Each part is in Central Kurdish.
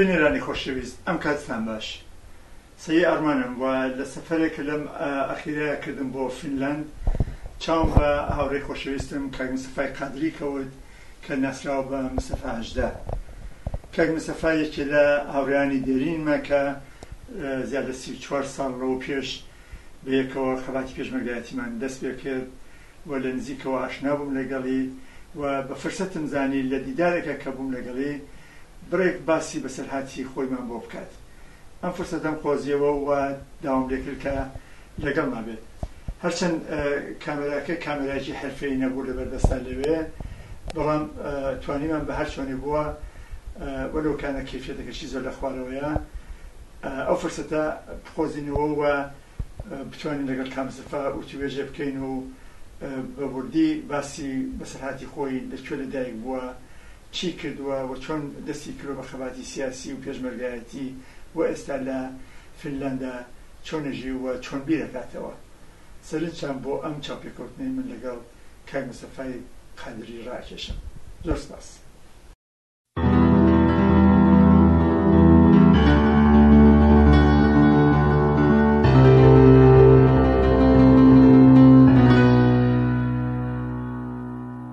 بینەرانی خۆشەویست ئەم کاتتان باش سەیی ئەرمانم و لە سەفەرێک کە لەم ئەخیرەیە کردم بۆ فینلاند چاوم بە هاوڕێی خۆشەویستم کاک مستەفای قادری کەوت کە ناسراوە بە مستەفا هەژدە کاک مستەفا یەکێ لە هاوڕێیانی دێرینمە کە زیادە سی و چوار ساڵ لەوە پێش بە یەکەوە خەباتی پێشمەرگایەتیمان دەست پێ کرد و لە نزیکەوە ئاشنا بووم لەگەڵی و بە فرسەتم زانی لە دیدارێکا کە بووم لەگەڵی بڕێک باسی بەسەرهاتی خۆیمان بۆ بکات. ئەم فرسەتەم قۆزیەوە و وا داوام لێ کرد کە، لەگەڵمان بێت هەرچەند کامێراکە کامێرایەکی حرفەی نەبوو لەبەر دەستا لەوێ بەڵام توانیمان بە هەر چۆنێ بووە وەلو کانە کیفێتەکەشی زۆر لە خوارەوەیە ئەو فرسەتە بقۆزینەوە و بتوانین لەگەڵ کامسەفا وتوێژێ بکەین و بە وردی باسی بەسەرهاتی خۆی لە کوێ لەدایک بووە چی کردووە و چۆن دەستی کردووە بە خەباتی سیاسی و پێشمەرگایەتی و ئێستا لە فینلاندا چۆن ئەژی و چۆن بیر ئەکاتەوە؟ سەرنجتان بۆ ئەم چاوپێکەوتنەی من لەگەڵ کاک مستەفای قادری ڕائەکێشم. زۆر سپاس.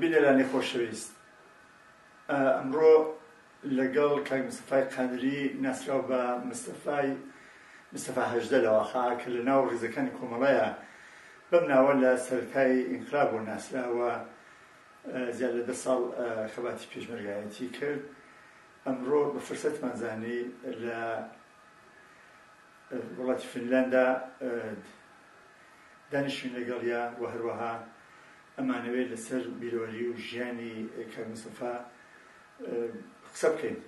بینەرانی خۆشەویست ئەمڕۆ لەگەڵ کاک مستەفای قادری ناسراو بە مستەفای مستەفا هەژدە لەواخا کە لە ناو ڕیزەکانی کۆمەڵەیە بەم ناوە لە سەرەتای ئینقلاب بۆ ناسراوە زیاد لە دە ساڵ خەباتی پێشمەرگایەتی کرد ئەمڕۆ بە فرسەتمان زانی لە وڵاتی فنلاندا دانیشتین لەگەڵیا و هەروەها ئەمانەوێت لەسەر بیرەوەری و ژیانی کاک مستەفا قسە بکەین.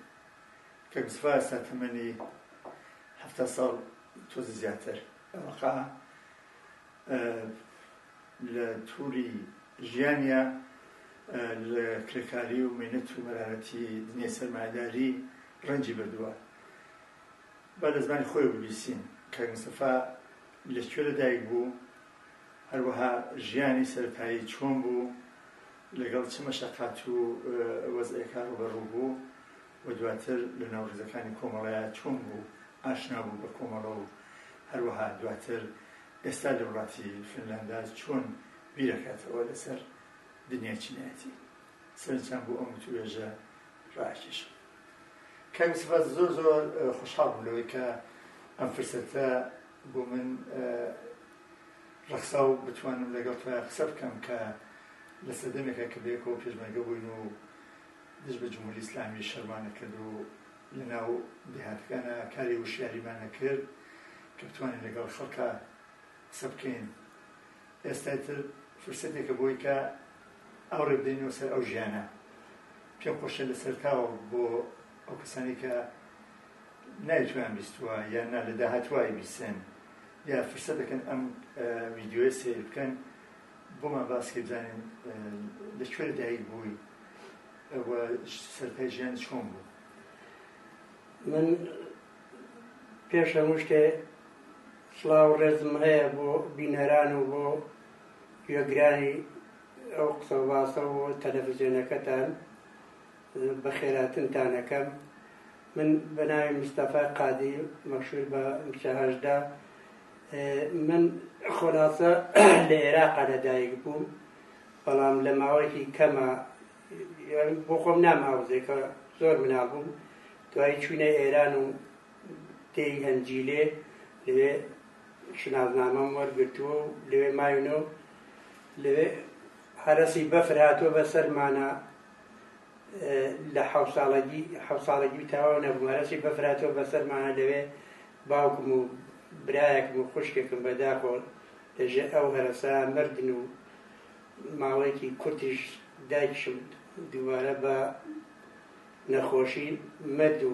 کاک مستەفا ئێستا تەمەنی حەفتا ساڵ تۆزە زیاتر ئەوەقا لە توری ژیانیا لە کرێکاری و مەینەت و مەرارەتی دنیای سەرمایەداری ڕەنجی بردووە. با لە زمانی خۆی ببیسین کاک مستەفا لە کوێ لەدایک بوو، هەروەها ژیانی سەرەتایی چۆن بوو، لەگەڵ چ مەشەقات و وەزعێکا ڕووبەڕوو بوو و دواتر لە ناو ڕیزەکانی کۆمەڵەیا چۆن بوو ئاشنا بوو بە کۆمەڵە و هەروەها دواتر ئێستا لە وڵاتی فنلاندا چۆن بیرەکاتەوە لەسەر دنیای چینایەتی. سەرنجتان بۆ ئەم وتووێژە ڕائەکێشم. کاک مستەفا زۆر زۆر خۆشحاڵ بووم لەوەی کە ئەم فرسەتە بۆ من ڕەخسا و بتوانم لەگەڵ تۆیان قسە بکەم کە لە سەردەمێکە کە بەیەکەوە پێشمەرگە بووین و دژ بە جمهوری ئیسلامی شەرمان نەکرد و لە ناو دێهاتەکانا کاری وشیاریمان نەکرد کە بتوانین لەگەڵ خەڵکا قسە بکەین ئێستای تر فرسەتێکە بۆی کە ئەو ڕێ بدەینەوە سەر ئەو ژیانە پێم خۆشە لە سەرتاوە بۆ ئەو کەسانی کە نایتوان بیستوە یان نا لە داهاتوای بیسێن یا فرسەتەکەن ئەم ویددیوە سیر بکەن بۆمان باسکە بزانین لە کوێ لە دایک بووی سەرپای ژیان چۆن بوو من پێش هەموو شتێ سلااو ڕێزم هەیە بۆ بینەران و بۆ گوێگرانی ئەو قسە باسە و تەلەڤزیۆنەکەتان بەخێراتنتان ئەکەم من بەناوی مستەفا قادی مەشهور بە مچە هەژدە من خۆلاسە لە عێراقا لەدایک بووم بەڵام لە ماوەیەکی کەمە بۆ خۆم ناماوزێکە زۆر مناڵ بووم دوای چوینە ئێران و تێی هەنجیلێ لەوێ شنازنامەم وەرگرتووە و لەوێ ماوینەوە لەوێ هەرەسی بەفر هاتووە بە سەرمانە لە حەوت ساڵەگی حەوت ساڵەگی و تاوا نەبووم هەرچی بەفر هاتووە بەسەرمانە لەوێ باوکم و برایەکم و خوشکێکم بەداخۆ لەژێر ئەو هەرەسا مردن و ماوەیەکی کورتیش دایکشم دووبارە بە نەخۆشی مرد و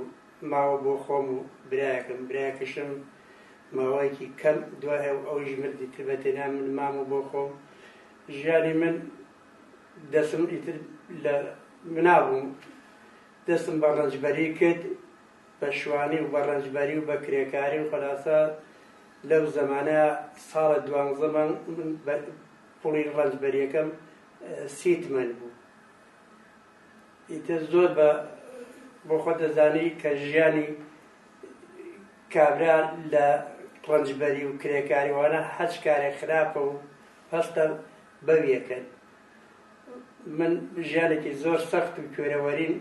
ماوە بۆ خۆم و برایەکم برایەکشم ماوەیەکی کەم دوای ئەو ئەویش مردی تر بە تێنا من مام و بۆ خۆم ژیانی من دەسم ئیتر لە منا بووم دەسم بە ڕەنجبەری کرد بە شوانی و بە ڕەنجبەری و بە کرێکاری و خلاصە لەو زەمانە ساڵە دوانزەمان من پڵی ڕەنجبەریەکەم سیتمەن بوو ئیتر زۆر بە بۆ خۆ دەزانی کە ژیانی کابرا لە ڕەنجبەری و کرێکاریوانە هەچ کارێک خراپە و هەستم بەو یەکەن. من ژیانێکی زۆر سەخت و کوێرەوەریم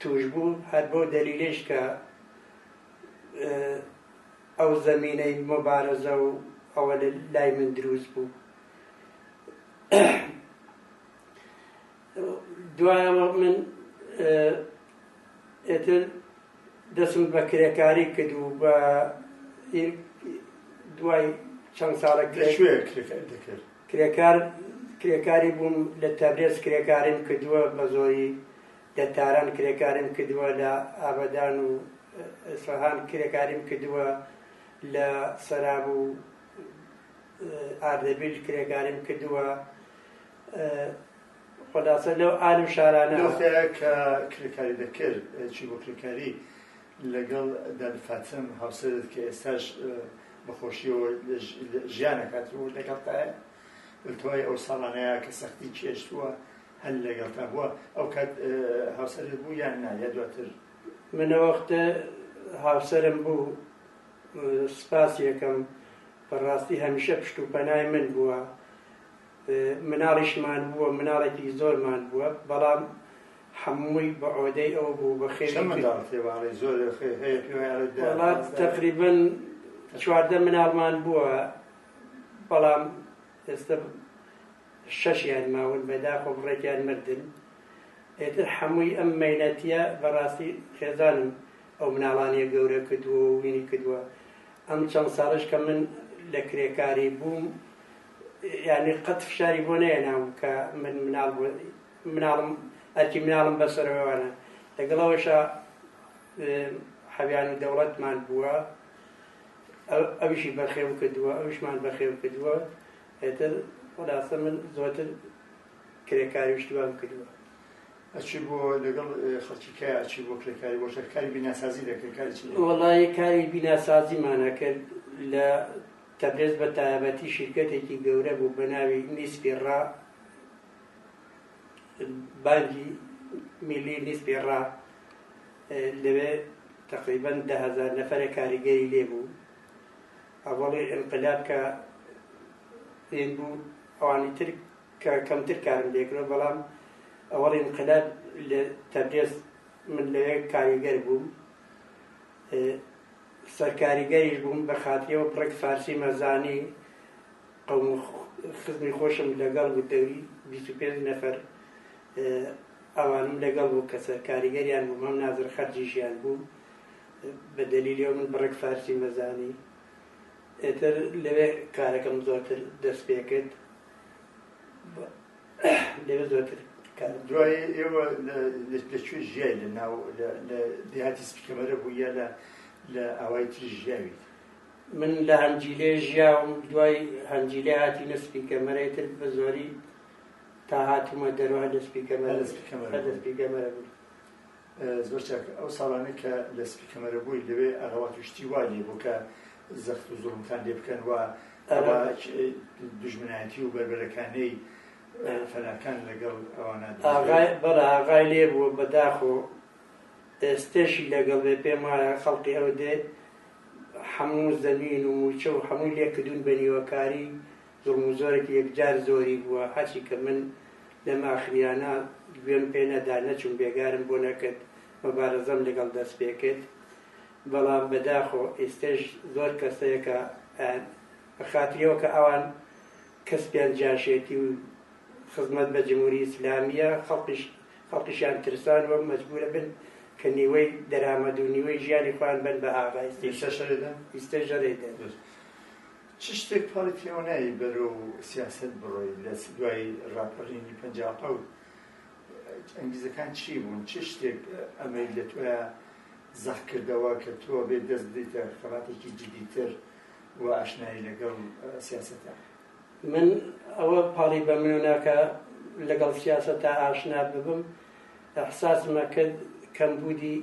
تووش بوو، هەر بەو دەلیلەیش کە ئەو زەمینەی مۆبارەزە و ئەوە لای من دروست بوو. دوایەوە من ئێتر دەسوود بە کرێکاری کرد و بە یر دوای چەند ساڵێک لە کرێ- کوێ کرێکاری دەکرد؟ کرێکار کرێکاری بووم لە تەبرێز کرێکاریم کردووە بە زۆری لە تاران کرێکاریم کردووە لە ئابەدان و ئیسفەهان کرێکاریم کردووە لە سەراب و ئاردەبیل کرێکاریم کردووە ئە، خلاصە لەو عالم شارانە لەو خەیە کە کرێکاری دەکرد چی بۆ کرێکاری لەگەڵ دادە فاتم هاوسەرت کە ئێستاش بەخۆشیەوە ژیانەکات و لەگەڵتایە بەتەوای ئەو ساڵانەیە کە سەختی چێشتووە هەل لەگەڵتا بووە ئەو کات هاوسەرت بوو یان نا یا دواتر منەوەختە هاوسەرم بوو سپاس یەکەم بەڕاستی هەمیشە پشت و پەنای من بووە مناڵیش ماندبووە مناڵێکی زۆر ماندبووە بەڵام حەمووی بە عۆدەی ئەو بوو بە خێری چەند منداڵ تێباڵی زۆر خێ- هەیە پێوەی عەرەب دێ. وڵات تقریبا چواردە مناڵمان بووە بەڵام ئێستا شەشیان ماون بەداخۆ بڕێکیان مردن ئێتر حەمووی ئەم مەینەتیە بەڕاستی خێزانم ئەو مناڵانیە گەورە کردووە و وینی کردووە ئەم چەند ساڵش کە من لە کرێکاری بووم یانی قەت فشاری بۆ نەیەنام کە من مناڵ مناڵم ئەرکی مناڵم بەسەرەوەوانە لەگەڵەوەشە حەویان و دەوڵەتمان بووە ئەوشی بەخێو کردووە ئەوشمان بەخێو کردووە ئێتر خلاصە من زۆتر کرێکاری شتوان کردووە ئەچی بۆ لەگەڵ خەڵکی کە ئەچی بۆ کرێکاری بۆ کاری بیناسازی دەکرێت کاری وڵی کاری بیناسازیمانە کرد لە تەبرێز بە تایەبەتی شیرکەتێکی گەورە بوو بە ناوی نیسپی ڕا بانگی میلی نیسپی ڕا لەوێ تقریبەن ده هزار نەفرە کاریگەری لێ بوو ئەوەڵی انقلاب کە هێن بوو ئەوانی تر کە کەمتر کارم لێکرۆ بەڵام ئەوەڵ انقلاب لە تەبرێز من لەوێ کاریگەر بووم سەرکاریگەریش بووم بەخاتری ئەوە بڕێک فارسیمە زانی قەوم و خزمی خۆشم لەگەڵ بوو دەوری بیست و پێنج نەفەر ئەوانم لەگەڵ بوو کە سەرکاریگەریان بووم هەم نازر خەرجیشیان بوو بە دەلیلی من بڕێک فارسی مەزانی ئێتر لەوێ کارەکەم زۆرتر دەست پێکرد لەوێ زۆرتر کار دەکەن. دوای ئێوە لە کوێ ژیای لە ناو لە دێهاتی سپیکەمەرە بوو یا لە لە ئاوای تری ژیاویت؟ من لە هەنجیلێ ژیاوم دوای هەنجیلێ هاتینە سپیکەمەرە تر بە زۆری تا هاتوومە دەرەوە لە سپیکەمەرە لە سپیکەمەرە بوو. زۆر چاک ئەو ساڵانەی کە لە سپی کەمەرە بووی لەوێ ئەغەوات و شتی وا لێ بوو کە زەخت و زوڵمتان لێ بکەن و ئەوە دژمنایەتی و بەربەرەکانەی فەناکان لەگەڵ ئەوانە بەڵە ئاغای لێ بووە بەداخ و ئێستێشی لەگەڵ بێ پێم وایە خەڵقی ئەو دێ هەموو زەمین و موچە و هەمووی لێکردون بە نیوەکاری زوڵم و زۆرێکی یەکجار زۆری بووە، هەرچی کە من لەم ئاخرییانە گوێم پێ نەدا، نەچووم بێگارم بۆ نەکرد، مەبارەزەم لەگەڵ دەست پێ کرد، بەڵام بەداخۆ ئیستەش زۆر کەس هەیە کە ئەیان بە خاتری ئەوە کە ئەوان کەس پێیان جاشێتی و خزمەت بە جمهوری ئیسلامییە، خەڵکیش خەڵکیشیان ترساند و مەجبوورە بن کە نیوەی دەرامەد و نیوەی ژیانی خۆیان بەن بە ئاغای سپی. ئیستەش هەرێ دەن؟ ئیستەش هەرێ دەن. چ شتێک پاڵی پێوە نایەی بەرەو سیاسەت بڕۆی لە دوای ڕاپەڕینی پەنجا و حەوت ئەنگیزەکان چی بوون چ شتێک ئەمەی لە تۆیا زەق کردەوە کە تۆ بێ دەست بدەیتە خەباتێکی جدیتر و ئاشنایی لەگەڵ سیاسەتە من ئەوە پاڵی بە من ناکە لەگەڵ سیاسەتە ئاشنا ببم احساسمە کرد کەمبوودی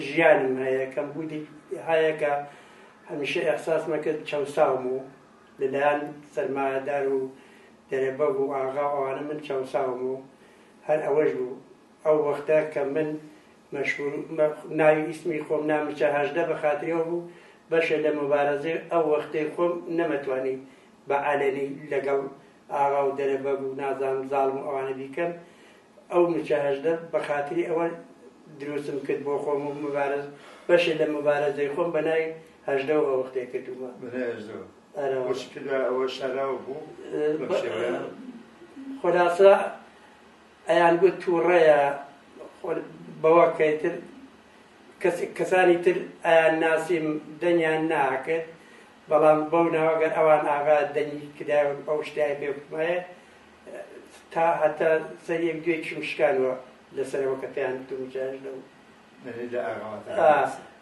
ژیانم هەیە کەمبوودی هەیە کە هەمیشە ئێحساسمە کرد چەوساوم و لەلایەن سەرمایەدار و دەرەبەگ و ئاغا و ئەوانە من چەوساوم و هەر ئەوەش بوو ئەو وەختە کە من مەشغول ناوی ئیسمی خۆم نامچە هەژدە بە خاتریەوە بوو بەشێ لە مبارەزەی ئەو وەختەی خۆم نەمەتوانی بە عەلەنی لەگەڵ ئاغا و دەرە بەگ و نازانم زاڵم و ئەوانە بیکەم ئەو مچە هەژدە بە خاتری ئەوە دروستم کرد بۆ خۆم و مبارز بەشێ لە مبارزەی خۆم بە ناوی هەژدە و ئەوەختێ کردومە ئەوە شارا بوو خۆلاسا ئەیان گوت تووڕەیە بەوە کەیتر کەسانی تر ئەیان ناسیم دەنیان ناکرد بەڵام بەو ناوە گەر ئەوان ئاغا دەنگی کدایەوە ئەو شتیان پێ بکمایە تا هەتا سەر یەک دوێ چم شکانوە لەسەرەوە کە پێیان بتم جاش لەو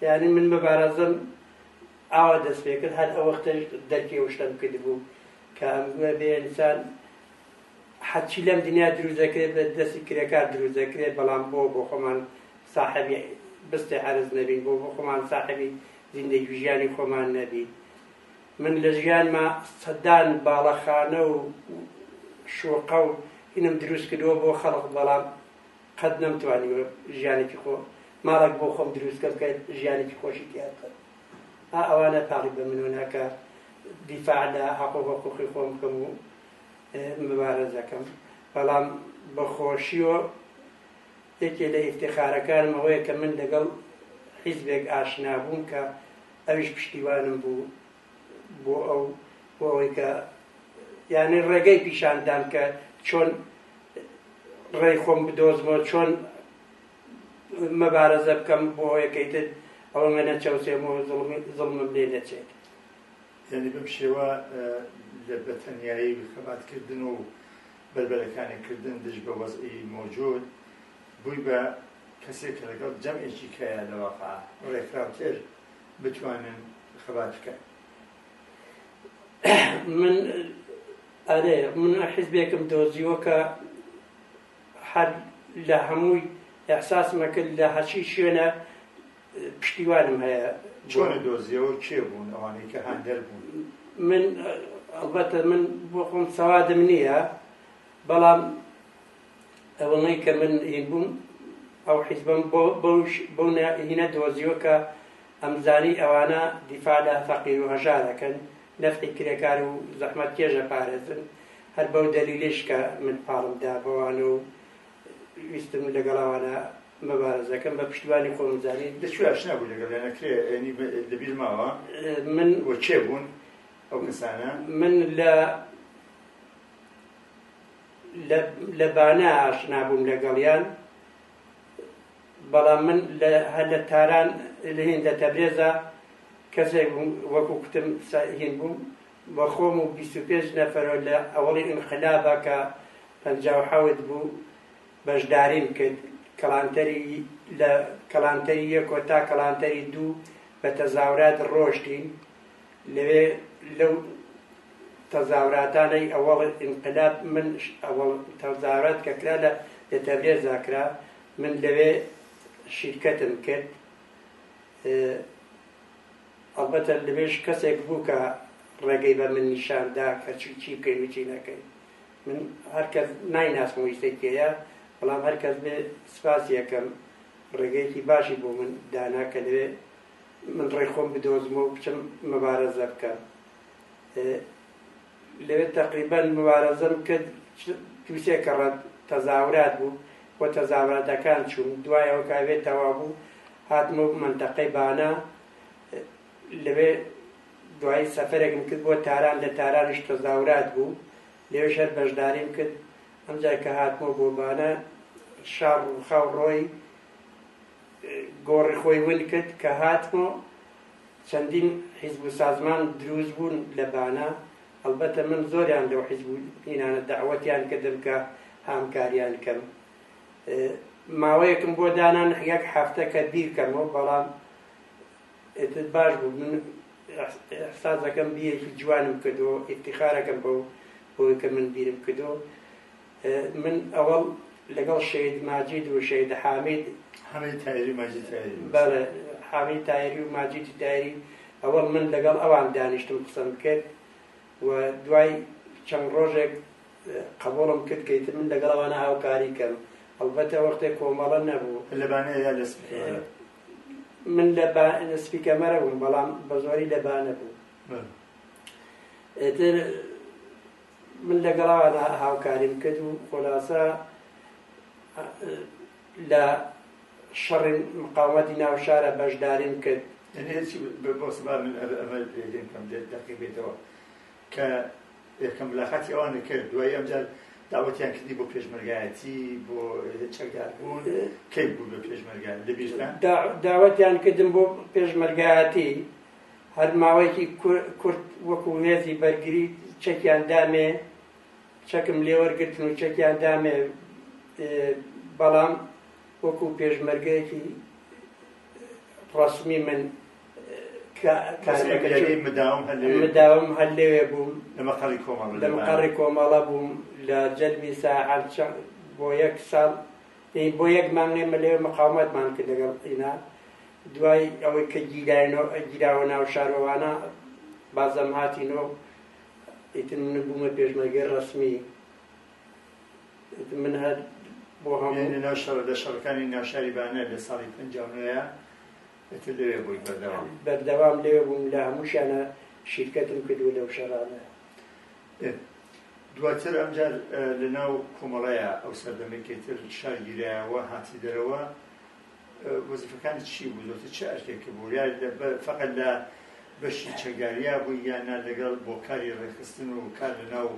یعنی من بە بارازم ئاوا دەست پێ کرد هەر ئەو وەختەش دەرکی ئەو شتم کرد بوو کە ئەمگوە بێ ئینسان حەچی لەم دنیا دروست دەکرێت بە دەستی کرێکار دروست دەکرێت بەڵام بۆ بۆ خۆمان ساحبی بستێ عرز نەبین بۆ بۆ خۆمان ساحبی زیندەگی ژیانی خۆمان نەبی من لە ژیانما سەدان باڵەخانە و شوقە و هینم دروست کردووە بۆ خەڵق بەڵام قەت نەمتوانیوە ژیانێکی خۆ ماڵک بۆ خۆم دروستکە بکە ژیانێکی خۆشی تیاکە ئەوانە تاڵی بە منۆ ناکە دیفاع لە حەقۆ حقوقی خۆم بکەم و مبارەزەکەم بەڵام بەخۆشیەوە یەکێ لە ئیفتیخارەکانم ئەوەیە کە من لەگەڵ حیزبێک ئاشنا بووم کە ئەویش پشتیوانم بوو بۆ ئەو بۆ ئەوەی کە یعنی ڕێگەی پیشاندام کە چۆن ڕێی خۆم بدۆزمەوە چۆن مەبارەزە بکەم بۆ یەکەیتر ئەوە منە چەوسێمەوە زڵمم لێ نەچێت یعنی بم شێوە لە بەتەنایی خەباتکردن و بەربەرەکانێ کردن دژ بە وەزعی مەوجود، بووی بە کەسێک کە لەگەڵ جەمعێکی کەیە لە واقع ڕێکخراوتر بتوانن خەبات بکەن. من ئەرێ من حیزبێکم دۆزیوە کە هەر لە هەمووی ئەحساسمەکرد لە هەرچی شوێنە پشتیوانم هەیە. چۆنت دۆزیەوە کێ بوون ئەوانەی کە هاندەر بوون؟ من ئەڵبەتە من بۆ خۆم سەوادم نییە بەڵام ئەوەڵەی کە من هین بووم ئەو حیزبم بۆ بەوش بۆ هینە دۆزیوە کە ئەمزانی ئەوانە دیفاع لە فەقیر و هەژا دەکەن نەفتی کرێکار و زەحمەت کێژە پارێزن هەر بەو دەلیلش کە من پاڵمدا بەوانە و ویستم لەگەڵ ئەوانە مەبارەزەکەم بە پشتیوانی خۆم زانی دەچوو ئاشنا بوو لەگەڵ یانە کرێ یعنی لەبیر ماوە من و کێ بوون ئەو کەسانە من لە لە بانە ئاشنا بووم لەگەڵیان بەڵام من هەر لە تاران لە هێندە تەبرێزە کەسێک بووم وەکو کوتم هین بووم بۆ خۆم و بیست و پێنج نەفەرەوە لە ئەوەڵی ئینقلابا کە پەنجا و حەوت بوو بەشداریم کرد کەڵانتەری لە کەڵانتەری یەکۆ تا کەڵانتەری دوو بە تەزاورات ڕۆشتین لەوێ لەو تەزاوراتانەی ئەوەڵ ئینقلاب من ئەوەڵ تەزاورات کە کرا لە لە تەبرێزا کرا من لەوێ شیرکەتم کرد ئەڵبەتە لەوێش کەسێک بوو کە ڕێگەی بە من نیشان دا کە چی چی بکەین و چی نەکەین. من هەر کەس نایناسم و ئیستەی کێیە، بەڵام هەر کەس بێ سپاسی ئەکەم، ڕێگەیەکی باشی بۆ من دانا کە لەوێ من ڕێی خۆم بدۆزمەوە و بچم مەبارەزە بکەم. لەوێ تەقریبەن موبارزەم کرد دوو سێ کەڕەت تەزاورات بوو و تەزاوراتەکان چووم دوای ئەو کاوێ تەوا بوو هاتمە منتەقەی بانە لەوێ دوای سەفرێکم کرد بۆ تاران لە تارانیش تەزاورات بوو لەوێش هەر بەشداریم کرد ئەمجا کە هاتمەوە بۆ بانە شار ڕووخاو ڕۆی گۆڕی خۆی ون کرد کە هاتمەوە چەندین حیزب و سازمان دروست بوون لە بانە، ئەڵبەتە من زۆریان لەو حیزب و ئینانە دەعوەتیان کردم کە هامکاریان کەم. ماوەیەکم بۆ دانا یەک هەفتە کە بیرکەمەوە بەڵام ئێتر باش بوو من ئەحسازەکەم بیەکی جوانم کردو ئیفتیخارەکەم بەو بۆی کە من بیرم کردو من ئەوەڵ لەگەڵ شەید ماجید و شەید حامید حامید تایری ماجید تایری بەڵێ حامید تایری و ماجیدی تایری ئەوەڵ من لەگەڵ ئەوان دانیشتم قسەم کرد و دوای چەند ڕۆژێک قبولم کرد کەیت من لەگەڵ ئەوانە هاوکاری کەم ئەڵبەتە وەختێک کۆمەڵە نەبوو لەبانە یا لە من لە سپیکەمەرە بووم بەڵام بە زۆری لەبانە بوو ئێتر من لەگەڵیاندا هاوکاریم کرد و خولاسە لە شەڕی مقاومەتی ناو شارە بەشداریم کرد. کە یەکەم ملاقاتی ئەوانە کرد دوای ئەمجار داوەتیان کردی بۆ پێشمەرگایەتی بۆ چەکدار بوون کەی بوو بە پێشمەرگان لەبیرتان؟ داوەتیان کردم بۆ پێشمەرگایەتی هەر ماوەیەکی کورت وەکو مێزی بەرگری چەکیان دامێ، چەکم لێوەرگرتن و چەکیان دامێ، بەڵام وەکو پێشمەرگەیەکی ڕەسمی من مداوم هەر لەوێ بووم لە مەقەڕی کۆمەڵە بووم لە جەلبی ساعەت بۆ یەک ساڵ ئێ بۆ یەک مانگ ئێمە لەوێ مقاومەتمان کرد لەگەڵ ئینا دوای ئەوەی کە گیراینەوە گیراوە ناو شارۆوانە بازەم هاتینەوە ئیتر من بوومە پێشمەرگەی ڕەسمی من هەر بۆ هەموو لە ناو شەڕ لە شەڕەکانی ناو شاری بانە لە ساڵی 59 ئیتر لەوێ بووی بەردەوام بەردەوام لەوێ بووم لە هەمووشیانە شیرکەتم کردووە لەو شەڕانە ئێ دواتر ئەمجار لە ناو کۆمەڵەیا ئەو سەردەمەی کە ئیتر شار گیرایەوە هاتی دەرەوە وەزیفەکانی چی بوو زۆرتر چ ئەرکێک بوو یا فقط لە بەشی چەکداریا بوو یا نا لەگەڵ بۆ کاری ڕێخستن و کار لە ناو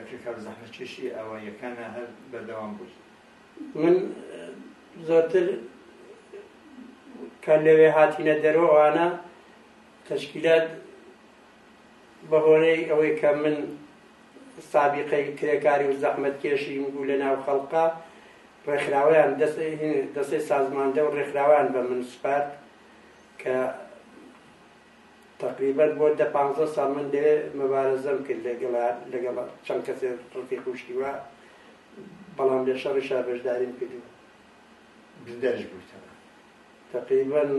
کرێکار و زەحمەتکێشی ئاواییەکانە هەر بەردەوام بووی من زۆرتر کە لەوێ هاتینە دەرەوەوانە تەشکیلات بەهۆرەی ئەوەی کە من سابیقەی کرێکاری و زەحمەتکێشیم بوو لە ناو خەڵقا ڕێکخراوەیان دەستەی سازماندە و ڕێکخراوەیان بە من سپارد کە تقریبەت بۆ دە پانزە ساڵ من لێ مەبارەزەم کرد لەگەڵ لەگەڵ چەند کەسێ ڕفی خوشتی وە بەڵام لێ شەڕی شار بەشداریم کردو بریندارش بوویتەوە تقریبەن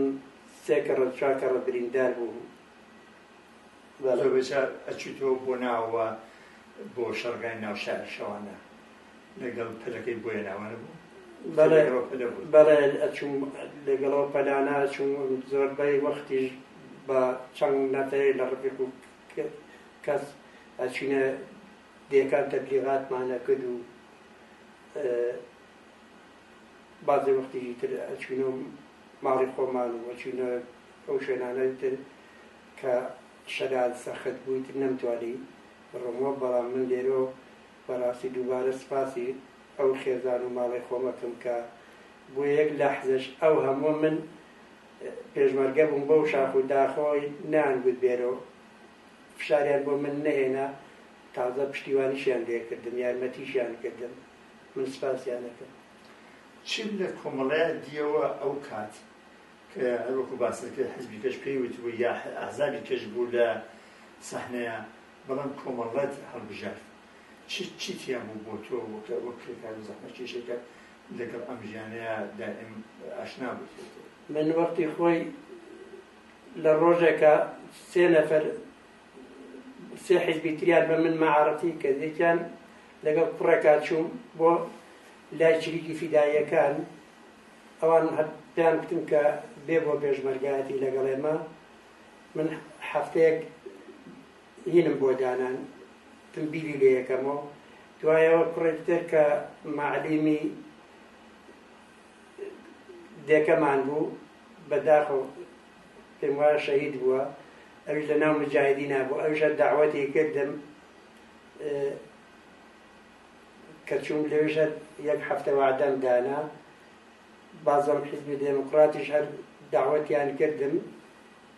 سێ کەڕە چوار کەڕە بریندار بوو زۆر بەجار ئەچیتەوە بۆ ناوەوە بۆ شەڕگای ناو شاری شەوانە لەگەڵ پەلەکەی بۆیە ناوانە بوو بەڵێ بەڵێ ئەچوم لەگەڵەوە پەلانە چوم زۆربەی وەختیش بە چەند نەفەیە لە ڕفیق و کەس ئەچینە دێکان تەبلیغاتمانە کرد و بازێ وەختیژی تر ئەچینەوە ماڵی خۆمان و ئەچینە ئەو شوێنانەی تر کە شەرعەن سەخت بوویت نەمتوانی بڕۆمەوە، بەڵام من لێرۆ بەڕاستی دووبارە سپاسی ئەو خێزان و ماڵەی خۆم ئەکەم کە بۆ یەک لەحزەش ئەو هەمووە من پێشمەرگە بووم بەو شاخ و داخەوەی نەیانگوت بێرۆ فشاریان بۆ من نەهێنا تازە پشتیوانیشیان لێکردم یارمەتیشیان کردم من سپاسیان ئەکەم. چ لە کۆمەڵەیە دیەوە ئەو کات کە هەر وەکو باسە کە حزبی کەش پێی وتبوو یا ئازابی کەش بوو لە سەحنەیە بەڵام کۆمەڵەت هەڵبژارد چی تیا بوو بۆ تۆ وەکرێکار و زەحمە کێشێکە لەگەڵ ئەم ژیانەیە دائم ئاشنا بوو من وەختی خۆی لە ڕۆژێکە سێ نەفەر سێ حزبی تریان بە من مەعاڕەتی کە یەکیان لەگەڵ کوڕێکا چووم بۆ لای چریکی فیداییەکان ئەوان هەر پێیان گوتم کە بێ بۆ پێشمەرگایەتی لەگەڵ ئێمە من هەفتەیەک هینم بۆ دانان تم بیری لێ یەکەمەوە دوایەوە کوڕێک تر کە معلیمی دێکەمان بوو بەداخۆ پێم وایە شەهید بووە ئەویش لە ناو مجاهدی نابوو ئەوشە داوەتی کردم کە چووم لەوێش هەر یەک هەفتە وەعدەم دانا بازەم حیزبی دێموکراتیش هەر داوەتیان کردم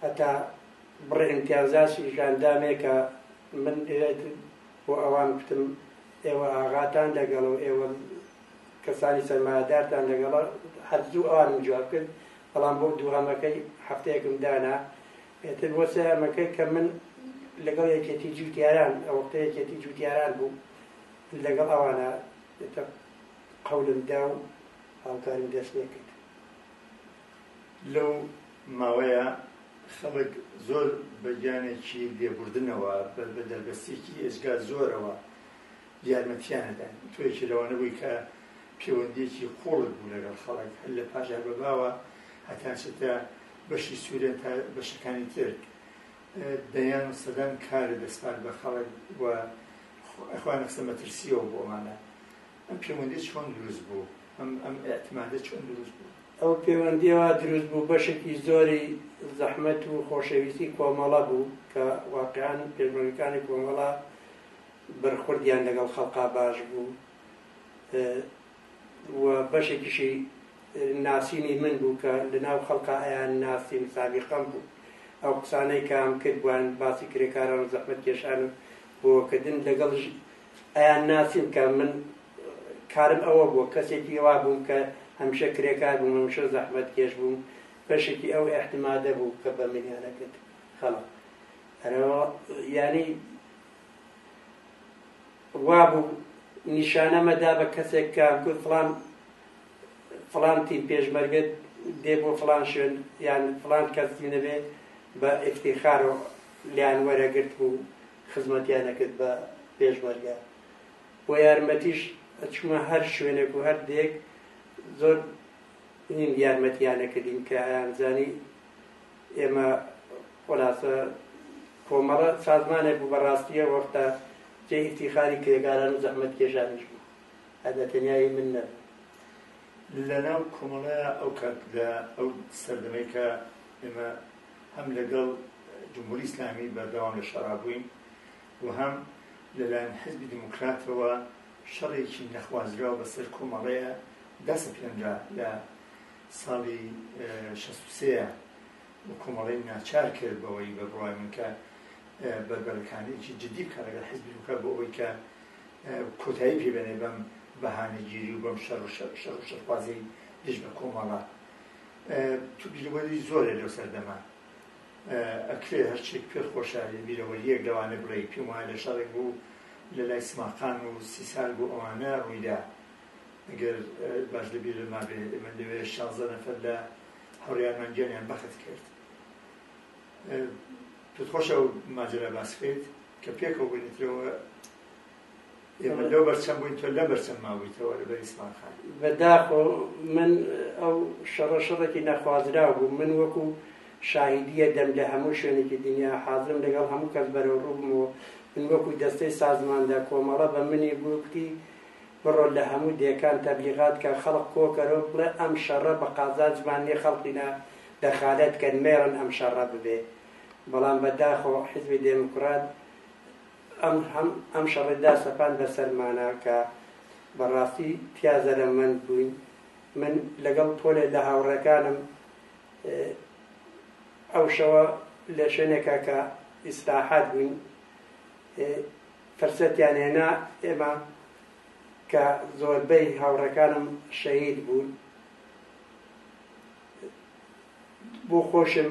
هەتا بڕی ئیمتیازاتی ژاندامێ کە من بۆ ئەوان کوتم ئێوە ئاغاتان لەگەڵ و ئێوە کەسانی سەرمایەدارتان لەگەڵە هەر زوو ئەوانم جواب کرد بەڵام بۆ دووهەمەکەی هەفتەیەکم دانا ئیتر بۆ سەیران مەکەی کە من لەگەڵ یەکێتی جوتیاران ئەوەختە یەکێتی جوتیاران بوو لەگەڵ ئەوانە ئیتر قەولم دا و هاوکاریم دەست پێ کرد لەو ماوەیە خەڵک زۆر بە گیانێکی لێبوردنەوە بە دەربەستێکی ئێجگا زۆرەوە یارمەتیانەدان توێکی لەوانە بووی کە پەیوەندیەکی قوڵت بوو لەگەڵ خەڵک هەر لە پاژار بەباوە هەتانچێتە بەشی سوریا تا بەشەکانی تر دەیان و سەدان کارە دەسپارد بە خەڵک و ئەخوان قسە مەترسیەوە بۆمانە ئەم پەیوەندی چۆن دروست بوو ئەم ئەم ئەتمادە چۆن دروست بوو ئەو پەیوەندیەوە دروست بوو بەشێکی زۆری زەحمەت و خۆشەویستی کۆمەڵە بوو کە واقعان پێشمەرگەکانی کۆمەڵە بەرخوردیان لەگەڵ خەڵقا باش بوو و بەشێکیشی ناسینی من بوو کە لە ناو خەڵکا ئەیان ناسیم سابیقەم بوو ئەو قسانەی کام کرد بووان باسی کرێکاران و زەحمەت کێشان و بۆکردن لەگەڵش ئەیان ناسیم کە من کارم ئەوە بوو کەسێکی وا بووم کە هەمیشە کرێکار بووم هەمیشە زەحمەت کێش بووم بەشێکی ئەو احتمادە بوو کە بە منیانەکرد خەڵک ینی وابوو نیشانە مەدا بە کەسێک کە گوت فلان فلان تیر پێشمەرگەت دێ بۆ فلان شوێن یان فلان کەس نەبێ بە ئفتیخارەوە لیان وەرەگرت بوو خزمەتیان دەکرد بە پێشمەرگە بۆ یارمەتیش چمە هەر شوێنێک و هەردێک زۆر یارمەتیانە کردین کە ئەیانزانی ئێمە خولاسە کۆمەڵە سازمانێک بوو بە ڕاستی ئەو وەختە جێی ئیفتیخاری کرێکاران و زەحمەتکێشانیش بوو هەر بە تەنیایی من نەبوو. لەناو کۆمەڵەیە ئەو کات لە ئەو سەردەمەی کە ئێمە هەم لەگەڵ جمهوری ئیسلامی بەردەوام لە شەڕا بووین و هەم لەلایەن حزبی دیموکراتەوە شەڕێکی نەخوازراو بەسەر کۆمەڵەیە دەسەپێنرا لە ساڵی 63 و کۆمەڵەی ناچار کرد بەوەی بە بڕوای من کە بەربەرەکانێکی جددی بکات لەگەڵ حیزبی دیموکرات بۆ ئەوەی کە کۆتایی پێبێنێ بەم بەهانەگیری و بەم شەڕ و شەڕ و شەرخوازی دژ بە کۆمەڵە تو بیرەوەری زۆرە لەو سەردەمە ئەکرێ هەرچێک پێ خۆشە بیرەوەریەک لەوانە بڵێ پێم وایە لە شەڕێک بوو لە لای سماقان و سی سال بوو ئەوانە ڕوویدا ئەگەر باش لە بیرما بێ ئێمە لەوێ شازدە نەفەر لە هەوریارمان گیانیان بەخت کرد پێت خۆش ئەو ماجرا باس بکەیت کە پێکەوە بنیترەوە ئێمە لەو بەرچەم بووین تۆ لە بەرچەم ماوەیتەوە لە بەریسمان خان بەداخۆ من ئەو شەڕە شەڕێکی نەخوازرا بوو من وەکو شاهدیە دەم لە هەموو شوێنێکی دنیا حازم لەگەڵ هەموو کەس بەرەو ڕووبمەوە من وەکو دەستەی سازماندا کۆمەڵە بە منی بووکتی بڕۆ لە هەموو دێکان تەبلیغات کە خەڵق کۆکەرەوە بڵێ ئەم شەڕە بە قازانجمان نیە خەڵقی نا دەخالەت کەن مەیەن ئەم شەڕە ببێ بەڵام بە داخۆ حیزبی دێموکرات ئەم هەم ئەم شەڕی دا سەپان بەسەرمانە کە بەڕاستی تیا زەرەمەند بووین من لەگەڵ پۆلێ لە هاوڕێکانم ئەو شەوە لە شوێنێکە کە ئیسراحات بووین فرسەتیان هێنا ئێمە کە زۆربەی هاوڕێکانم شەهید بوون بۆ خۆشم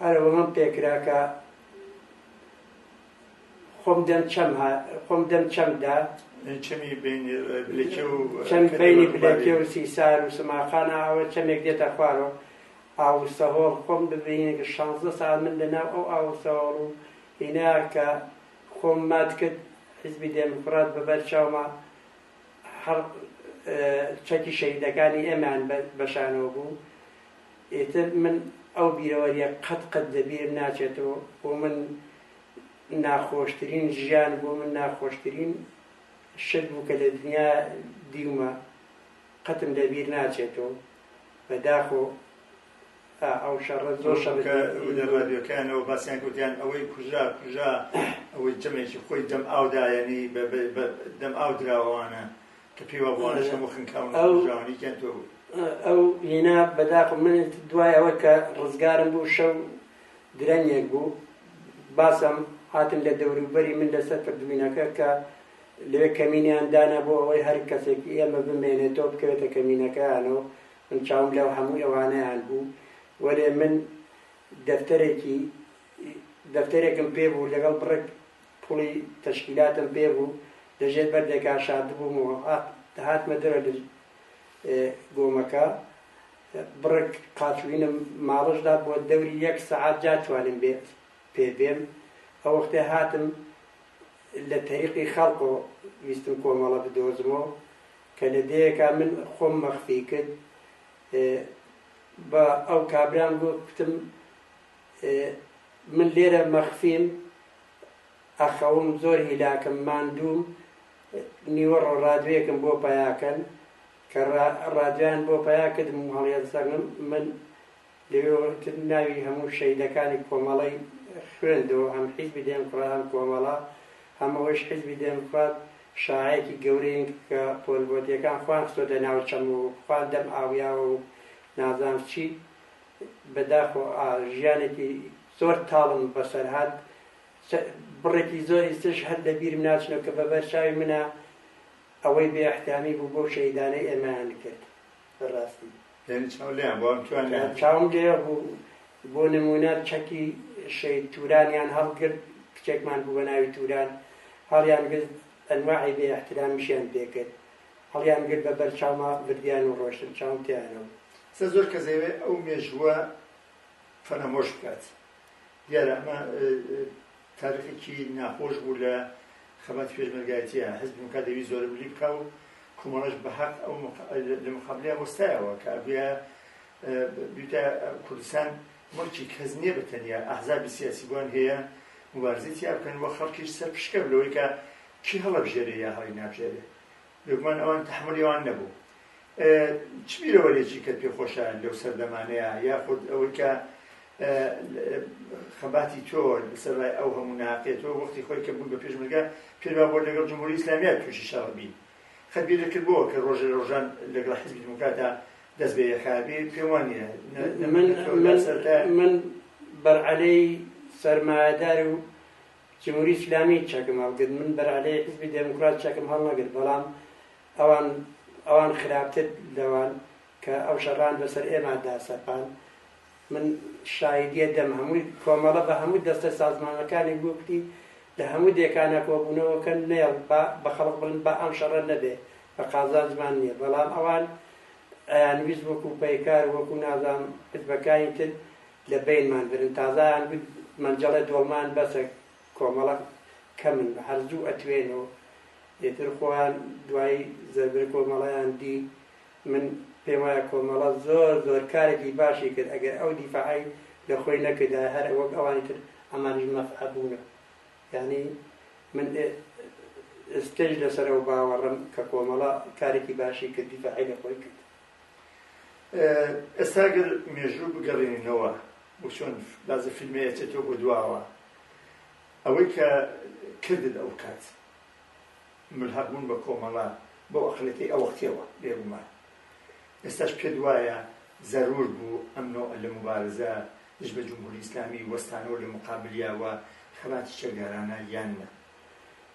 هەرەوەڵم پێکرا کە خۆم دەم چەم خۆم دەم چەمدا چەمی بینی بلەکێ و سیسار و سماخان ئاوە چەمێک دێتە خوارەوە ئاوسەهۆڵ خۆم ببینێک شانزە ساڵ من لەناو ئەو ئاوسەهۆڵ و هینا کە خۆم مات کرد حیزبی دێموکڕات بە بەر چاوما هەڕ چەکی شەهیدەکانی ئێمەیان بە شانەوە بوو ئیتر من ئەو بیرەوەریە قەت قەت لە بیرم ناچێتەوە بۆ من ناخۆشترین ژیان بۆ من ناخۆشترین شت بوو کە لە دنیا دیومە قەتم لە بیر ناچێتەوە بەداخۆ کە لە ڕادیۆکانەوە باسیان کرد گوتیان ئەوەی کوژرا کوژرا ئەوەی جەمێکی خۆی دەم ئاو دایەنی دەم ئاو دراوە ئەوانە کە پێی وابوو ئەوانەش هەموو خنکاون و کوژراونیکیان تۆ بوو ئەو هینا بەداخم من دوای ئەوە کە ڕزگارم بوو شەو درەنگێک بوو باسم هاتن لە دەوروبەری من لەسەر پردوینەکە کە لەوێ کەمینیان دانا بۆ ئەوەی هەر کەسێک ئێمە بمێنێتەوە بکەوێتە کەمینەکەیانەوە من چاوم لەو هەموو ئەوانەیان بوو وەلێ من دەفتەرێکی دەفتەرێکم پێ بوو لەگەڵ بڕێک پوڵی تەشکیلاتم پێ بوو لە ژێر بەردێکا شاردبووم و هاتمە دەرە لە گۆمەکە بڕێک قاچوینم ماڵشدا بۆ دەوری یەک سەعات جا توانم بێت پێ بێم ئەو وەختێ هاتم لە تەریقی خەڵکۆ ویستم کۆمەڵە بدۆزمەوە کە لە دێیەکا من خۆم مەخفی کرد بە ئەو کابرام گوتم من لێرە مەخفیم ئەخەوم زۆر هیلاکم ماندووم نیوە ڕۆڕادوێکم بۆ پەیاکەن کە ڕادویان بۆ پەیا کردم هەڵێن سەرم من لەوێ وتم ناوی هەموو شەهیدەکانی کۆمەڵەی خوێندەوە هەم حیزبی دێمکڕات هەم کۆمەڵە هەم ئەوەیش حیزبی دێمکڕات شەعاعێکی گەورەین کە پۆلبۆتیەکان خۆیان خستۆتە ناو چەم و خۆیان دەم ئاویاوە و نازانم چی بە داخۆ ئا ژیانێکی زۆر تاڵم بەسەر هات چە بڕێکی زۆری ترش هەر لە بیرم ناچنەوە کە بە بەر چاوی منە ئەوەی بێ ئەحترامی بوو بەو شەهیدانەی ئێمەیان کرد بەڕاستی پێنج چاو لێیان بوو ئەمتوانی پێنج چاوم لێ بوو بۆ نمونە چەکی شەید تورانیان هەڵگرت کچێکمان بوو بە ناوی توران هەڵیان گرت ئەنواعی بێ احترامیشیان پێکرد هەڵیان گرت بە بەر چاوما بردیان و ڕۆشتن چاوم تیانەوە سە زۆر کە زەوێ ئەو مێژووە فەرامۆش بکات دیارە ئەمە تاریقێکی ناخۆش بوو لە خەباتی پێشمەرگایەتییا، حیزبی دموکرات دەویست زۆرە ملی بکا و کۆمەڵەش بە هەق ئەو لە مقابلیا وەستایەوە کە ئەبویا بیتە کوردستان موڵکی کەس نیە بە تەنیا ئەحزابی سیاسی بۆیان هەیە موبارزەی تیا بکەن و خەڵکیش سەرپشکە لەوەی کە کی هەڵەبژێرێ یا هەڵی نابژێرێ لوقمان ئەوان تەحمولی ئەوان نەبوو چ بیرەوەرێکی کە پێ خۆشە لەو سەردەمانەیە یاخود ئەوەی کە خەباتی تۆ لەسەر ڕای ئەو هەموو ناقێت تۆ وەختی خۆی کە بوون بە پێشمەگە پێروا بۆ لەگەڵ جمهوری ئیسلامیا تووشی شەڕبی خەبی لەکردبووە کە ڕۆژە ڕۆژان لەگەڵ حزبی دموکراتە دەست بە یەکابێ پێم وانە من بەرعەلەی سەرمایەدار و جمهوری اسلامی چەکم هەڵگرت من بەرعلەی حزبی دێموکڕات چەکم هەڵنەگرت بەڵام ئەوان ئەوان خراپتر لەوان کە ئەو شەڕان بەسەر ئێمادا سەپان من شایدیە دەم هەمووی کۆمەڵە بە هەموو دەستە سازمانەکانی گوپتی لە هەموو دێکانە کۆبوونەوەکە نێڵ بە خەڵق بڵن بە ئەم شەڕە نەبێ بە قازانجمان نییە بەڵام ئەوان ئەیانویست وەکو پەیکار وەکو نازام حزبەکانی تر لە بەینمان برن تازایان گوت مەنجەڵێ دۆڵمان بەسە کۆمەڵە کەمن بە هەر زوو ئەتوێنۆ ئێتر خۆیان دوای زەربر کۆمەڵەیان دی من پێم وایە کۆمەڵە زۆر زۆر کارێکی باشی کرد ئەگەر ئەو دیفاعی لە خۆی نەکردا هەر وەک ئەوانی تر ئەمانیش مەفعە بوونە یعنی من ئێستەش لەسەرەوە باوەڕم کە کۆمەڵە کارێکی باشی کرد دیفاعی لە خۆی کرد ئێستا گەر مێژوو بگەڕێنینەوە و چۆن بازە فیلمێ ئەچێتەوە بۆ دواوە ئەوەی کە کردن ئەو کات ملحق بوون بە کۆمەڵە بۆ ئەقلەکەی ئەوەختەوە بێگومان ئێستاش پێت وایە زەرور بوو ئەم نۆ لە مبارزە دژ بە جمهوری ئیسلامی وەستانەوە لە مقابلیاوە خەباتی چەکدارانە یان نە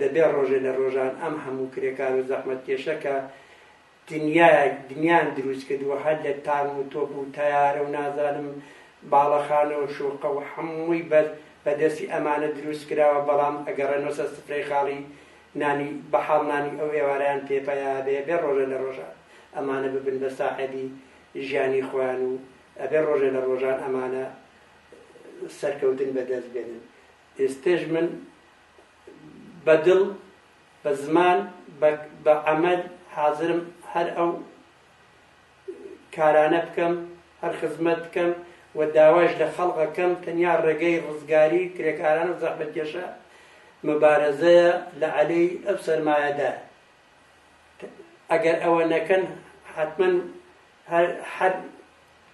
دەبێ ڕۆژێ لە ڕۆژان ئەم هەموو کرێکار و زەحمەتکێشە کە دنیایەک دنیان دروست کردووە هەر لە تان و تۆپ و تەیارە و نازانم باڵەخانە و شوقە و هەمووی بەر بەدەستی ئەمانە دروست کراوە بەڵام ئەگەڕێنەوەسە سفرەی خاڵی نانی بەحاڵ نانی ئەو ئێوارەیان پێپەیا بێ بێ ڕۆژە لە ڕۆژان ئەمانە ببن بە ساحەبی ژیانی خۆیان و ئەبێ ڕۆژە لە ڕۆژان ئەمانە سەرکەوتن بەدەست بێنن ئێستش من بە دڵ، بە زمان، بە عەمەل حازرم هەر ئەو کارانە بکەم، هەر خزمەت بکەم و داوایش لە خەڵق ئەکەم، تەنیا ڕێگەی ڕزگاری کرێکاران و زەحمەتکێشە مبارەزەیە لە عەلەی ئەو سەرمایەدارە. ئەگەر ئەوە نەکەن حەتمەن هەر هەر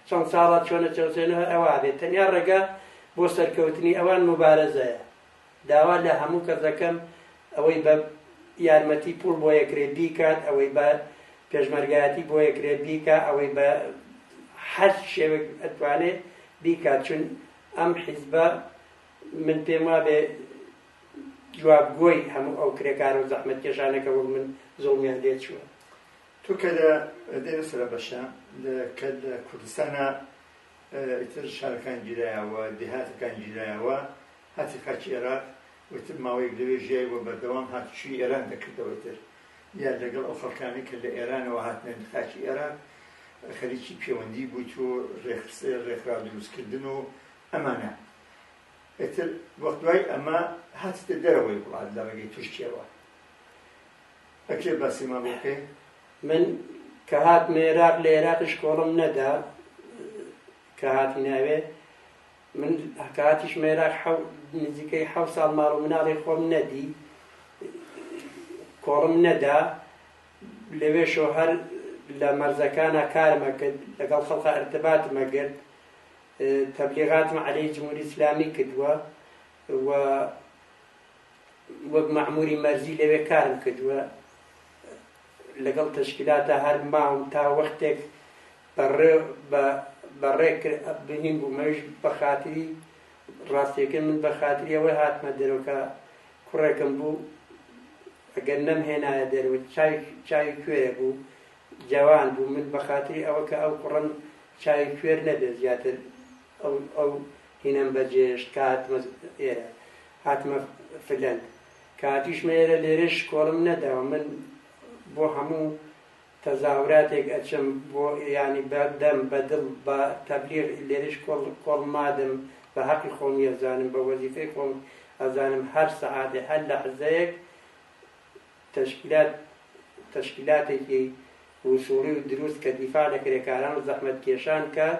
چەند ساڵە چۆنە چەوسێنەوە هەر ئەوە ئەبێت، تەنیا ڕێگا بۆ سەرکەوتنی ئەوان مبارەزەیە. داوا لە هەموو کەس دەکەم ئەوەی بە یارمەتی پووڵ بۆ یەکرێ بیکات، ئەوەی بە پێشمەرگایەتی بۆ یەکرێ بیکا، ئەوەی بە هەر شێوەک ئەتوانێ بیکات، چون ئەم حیزبە من پێم وابێ جوابگۆی هەموو ئەو کرێکارە و زەحمەتکێشانە کە وەک من زوڵمیان لێ چووە. تۆ کە لە دێمە سەرە بەشە کە لە کوردستانە ئیتر شارەکان گیرایەوە، دێهاتەکان گیرایەوە، هاتە خاکی ئێراق و ئیتر ماوەیەک لەوێ ژیای و بەردەوام هاتوچۆی ئێران دەکردەوە ئیتر دیار لەگەڵ ئەو خەڵکانەی کە لە ئێرانەوە هاتنە خاکی ئێراق خەریکی پێوەندی بووت و ڕێخسێ ڕێکخراو دروستکردن و ئەمانە ئیتر وەخت دوای ئەمە هاتتە دەرەوەی وڵات لە ڕێگەی تورکیەوە. ئە کێ باسی مە بۆ کەی. من کە هاتمە ئێراق لە ئێراقیش کۆڵم نەدا کە هاتینە ئەوێ من کە هاتیشمە ئێراق نزیکەی حەو ساڵ ماڵ و مناڵی خۆم نەدی کۆڵم نەدا لەوێشەوە هەر لە مەرزەکانە کارمە کرد لەگەڵ خەڵقە ئەرتباتمە گرت تەبلیغاتم عەلەی جمهوری ئیسلامی کردووە و وەک مەعموری مەرزی لەوێ کارم کردووە لەگەڵ تەشکیلاتە هەر ماوم تا وەختێک بەڕێک بنیم بوو مەویش بە خاتری ڕاستیەکە من بە خاتری ئەوەی هاتمە دەرۆکە کوڕێکم بوو ئەگەر نەم هێنایە دەروە چاوی کوێرە بوو جوان بوو من بە خاتری ئەوە کە ئەو کوڕم چاوی کوێر نەبێت زیاتر ئەو ئەو هینەم بەجێهێشت کە هاتمە ئێرە، هاتمە فلەند. کە هاتوویشمە ئێرە لێرەش کۆڵم نەداوە. من بۆ هەموو تەزاوراتێک ئەچم، بۆ یانی بە دەم، بە دڵ، بە تەبلیغ لێرەش کۆڵ کۆڵ مادم. بە هەقی خۆمی ئەزانم، بە وەزیفەی خۆم ئەزانم هەر سەعاتێ، هەر لەحزەیەک تەشکیلات تەشکیلاتێکی وسووڵی و دروست کە دیفاع لە کرێکاران و زەحمەتکێشان کات،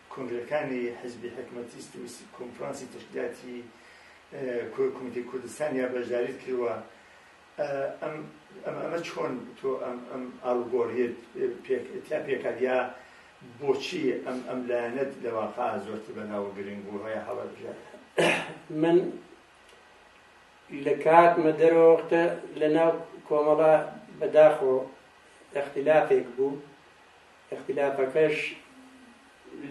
کۆنگرەکانی حزبی حکمەتیست و کۆنفرانسی تشکیلاتی کۆمیتی کوردستان یا بەشداریت کردوە ئەم ئەمە چۆن تۆ ئەم ئەم ئاڵگۆریت پێکتیا پێکات یا بۆچی ئەم ئەم لایەنەت لە واقع زۆرتر بەناوە گرنگ بوو هەیە هەڵە بژێت من لە کات مەدەرەوەختە لە ناو کۆمەڵە بەداخۆ اختلافێک بوو ئیختیلافەکەش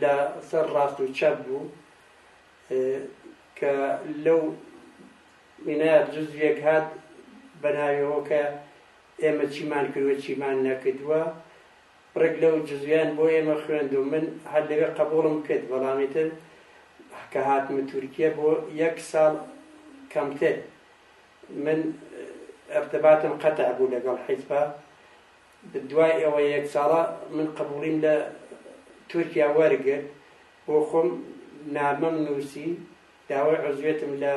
لە سەر ڕاست و چەپ بوو کە لەو وینایە جزویەک هات بە ناویەوە کە ئێمە چیمان کردوە چیمان نەکردووە ڕێک لەو جزویان بۆ ئێمە خوێند و من هەر لەوێ قبوڵم کرد بەڵامی تر کە هاتمە تورکیە بۆ یەک ساڵ کەمتر من ارتباطم قطع بوو لەگەڵ حیزبە دوای ئەوە یەک ساڵە من قبوڵیم لە تورکیا وەرگرت بۆ خۆم نامەم نووسی داوای عزوێتم لە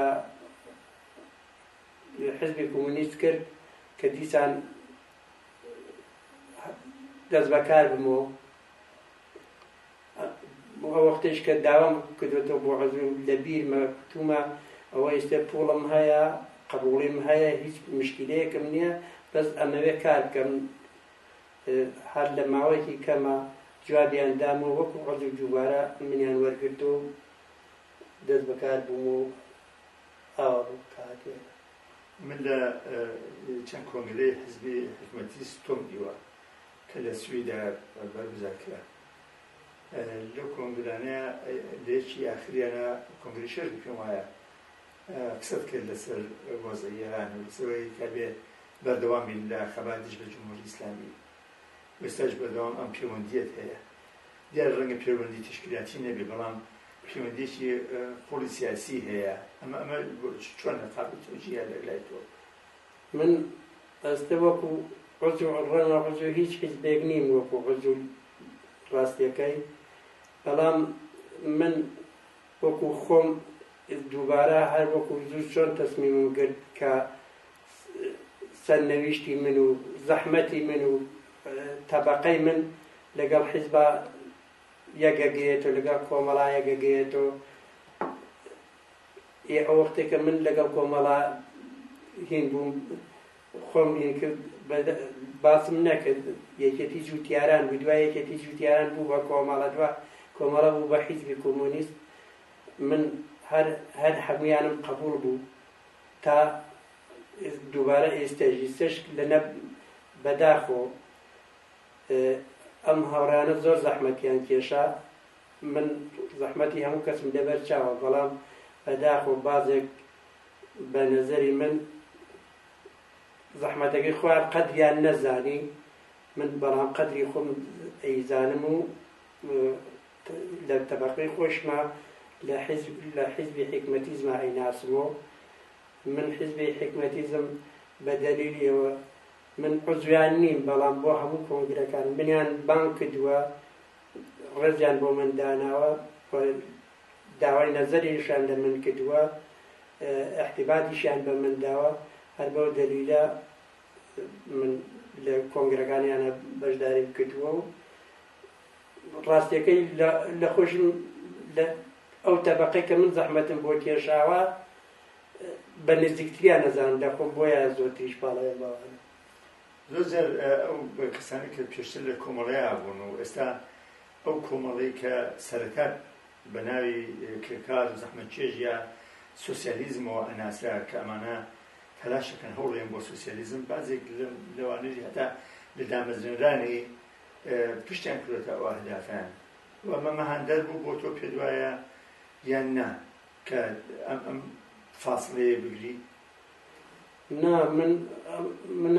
حزبی کۆمونیست کرد کە دیسان دەست بەکار بمەوە ئەوەختەیش کە داوام کردوێتەوە بۆ عەزوم لە بیرمە کوتومە ئەوە ئێستێ پوڵم هەیە قبوڵیم هەیە هیچ مشکلەیەکم نییە بەس ئەمەوێ کار بکەم هەر لە ماوەیەکی کەمە جوابیان دام و وەکو عەزو دووبارە منیان وەرگرت و دەست بەکار بووم و ئاوا بوو کاتێ من لە چەند کۆنگرەی حزبی حکومەتی ستۆم دیوە کە لە سویدا بەرگزار کرا لەو کۆنگرانە لەیەکی ئاخریانە کۆنگری شەش بکەم وایە قسەت کرد لەسەر وەزعی ئێران و لەسەرەوەی کابێ بەردەوام بین لە خەبات دژ بە جمهوری ئیسلامی وێستاش بەردەوام ئەم پەیوەندیت هەیە دیار ڕەنگە پەیوەندی تشکیلاتی نەبێ بەڵام پەیوەندێکی قوڵی سیاسی هەیە ئەمە ئەمە چۆن نەقابل تۆجیە لەلای تۆ من ئەستە وەکو عزو ڕەنگە عزو هیچ حیزبێک نیم وەکو عزو ڕاستیەکەی بەڵام من وەکو خۆم دووبارە هەر وەکو زوو چۆن تەسمیمم گرت کە سەرنەویشتی من و زەحمەتی من و تەبقەی من لەگەڵ حیزبا یەکەگەیەێت و لەگەڵ کۆمەڵایەکەگەیەێت و ی ئەو وەختەی کە من لەگەڵ کۆمەڵە هین بووم خۆم هین کرد باسم نەکرد یەکێتی جووتیاران بوو دوای یەکێتی جووتیاران بوو بە کۆمەڵە دوا کۆمەڵە بوو بە حیزبی کۆمۆنیست من هەر هەر هەمویانم قبول بوو تا دووبارە ئێستەژی سش لەنە بەداخۆ ئەم هاوڕانە زۆر زەحمەتیان کێشە من زەحمەتی هەموو کەسم لەبەر چاوە بەڵام بەداخەوە بازێک بە نەزەری من زەحمەتەکەی خۆیان قەدریان نەزانی من بەڵام قەدری خۆم ئەیزانم و لە تەبقەی خۆشمە لە حزب لە حزبی حکمەتیزمە ئەیناسمەوە من حزبی حکمەتیزم بە دەلیلیەوە من عزویان نیم بەڵام بۆ هەموو کۆنگرەکان منیان بانگ کردووە ڕێزیان بۆ من داناوە و داوای نەزەریشان لە من کردووە احتیباتیشیان بە من داوە هەر بەو دەلیلە من لە کۆنگرەکانیانە بەشداریم کردووە و ڕاستیەکەی لە خۆشم لە ئەو تەبقی کە من زەحمەتم بۆ کێشاوە بە نزیکتریان نەزان دەخۆم بۆیە زۆتریش باڵێ باوانە زۆر جار ئەو کەسانی کە پێشتر لە کۆمەڵەیە بوون و ئێستا ئەو کۆمەڵەی کە سەرەتا بە ناوی کرێکار و زەحمەتکێش یا سوسیالیزمەوە ئەناسرا کە ئەمانە تەلاشەکەن هەوڵێن بۆ سوسیالیزم بازێک لەوانەیە هەتا لە دامەزرێنرانی پشتیان کردێتە ئەو ئەهدافیان و ئەمە مەهاندەر بوو بۆ تۆ پێ دوایە یان نا کە ئەم فاصلەیە بگری نا من من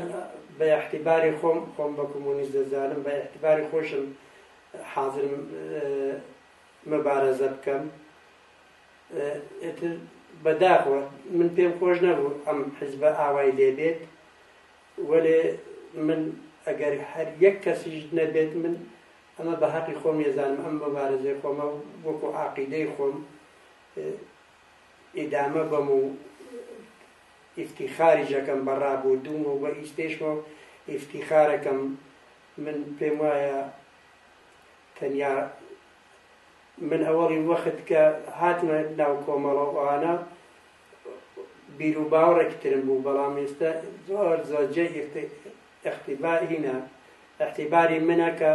بە احتیباری خۆم خۆم بە کۆمۆنیست دەزانم بە احتیباری خۆشم حازرم مەبارەزە بکەم ئتر بەداخوە من پێم خۆش نەبوو ئەم حزبە ئاوای لێبێت وەێ من ئەگەر هەر یەک کەسیش نەبێت من ئەمە بە هەقی خۆم ێزانم ئەم مەبارەزەی خۆمە وەکو عقیدەی خۆم ئیدامە بەم و ئیفتیخاریش ئەکەم بە ڕابوردووم و بە ئیستێشمە و ئیفتیخارەکەم من پێم وایە تەنیا من ئەوەڵی وەخت کە هاتمە ناو کۆمەڵە ئەوانە بیر و باوەڕێک ترم بوو بەڵام ئێستا زۆر زۆرجێ ئەختیبارینە ئەختیباری منە کە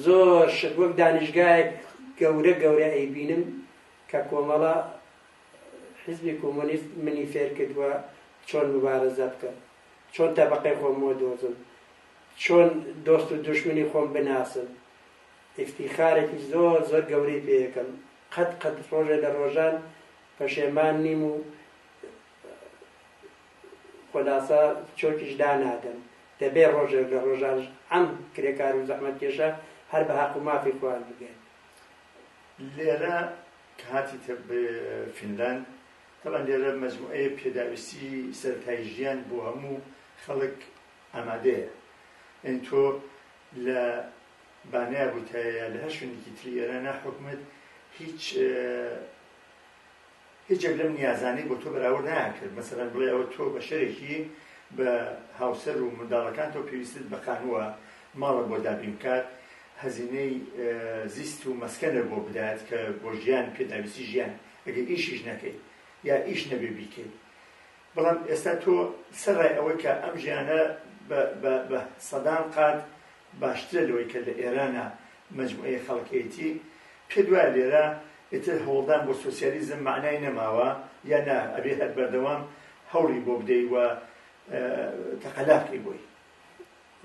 زۆر شت وەک دانیشگایەک گەورە گەورە ئەیبینم کە کۆمەڵە حیزبی کۆمۆنیست منی فێر کردووە چۆن مبارەزە بکەم چۆن تەبقەی خۆم بۆ دۆزم چۆن دۆست و دشمنی خۆم بناسم ئفتیخارێکی زۆر زۆر گەورەی پێیەکەم قەت قەت ڕۆژێ لە ڕۆژان پەشێمان نیم و خولاسە چۆکیش دانادەن دەبێ ڕۆژێک لە ڕۆژان ئەم کرێکار و زەحمەت کێشە هەر بە هەق و مافی خوان بگەن لێرە کاتی تر فینلاند تەبان لێرە مەجموعەیە پێداویستی سەرتای ژیان بۆ هەموو خەڵک ئامادەیە ئەین تۆ لە بانەیە بووتایە لە هەر شوێنێکی تری ئێرانە حکومت هیچ هیچێک لەم نیازانەی بۆ تۆ بەراورد نایانکرد، مەسەلەن بڵێ ئەوە تۆ بەشەرێکی بە هاوسەر و منداڵەکانتەوە پێویستت بە خانووە ماڵە بۆ دابین بکات، هەزینەی زیست و مەسکەنە بۆ بدات کە بۆ ژیان پێداویستی ژیان ئەگەر ئیشیش نەکەیت یا ئیش نەبێ بیکەیت بەڵام ئێستا تۆ سەرڕای ئەوەی کە ئەم ژیانە بە سەدان قات باشترە لەوەی کە لە ئێرانە مەجموعەی خەڵکێیتی پێت وایە لێرە ئیتر هەوڵدان بۆ سۆسیالیزم مەعنای نەماوە یا نا ئەبێ هەر بەردەوام هەوڵی بۆ بدەی و تەقەلا بکەی بۆی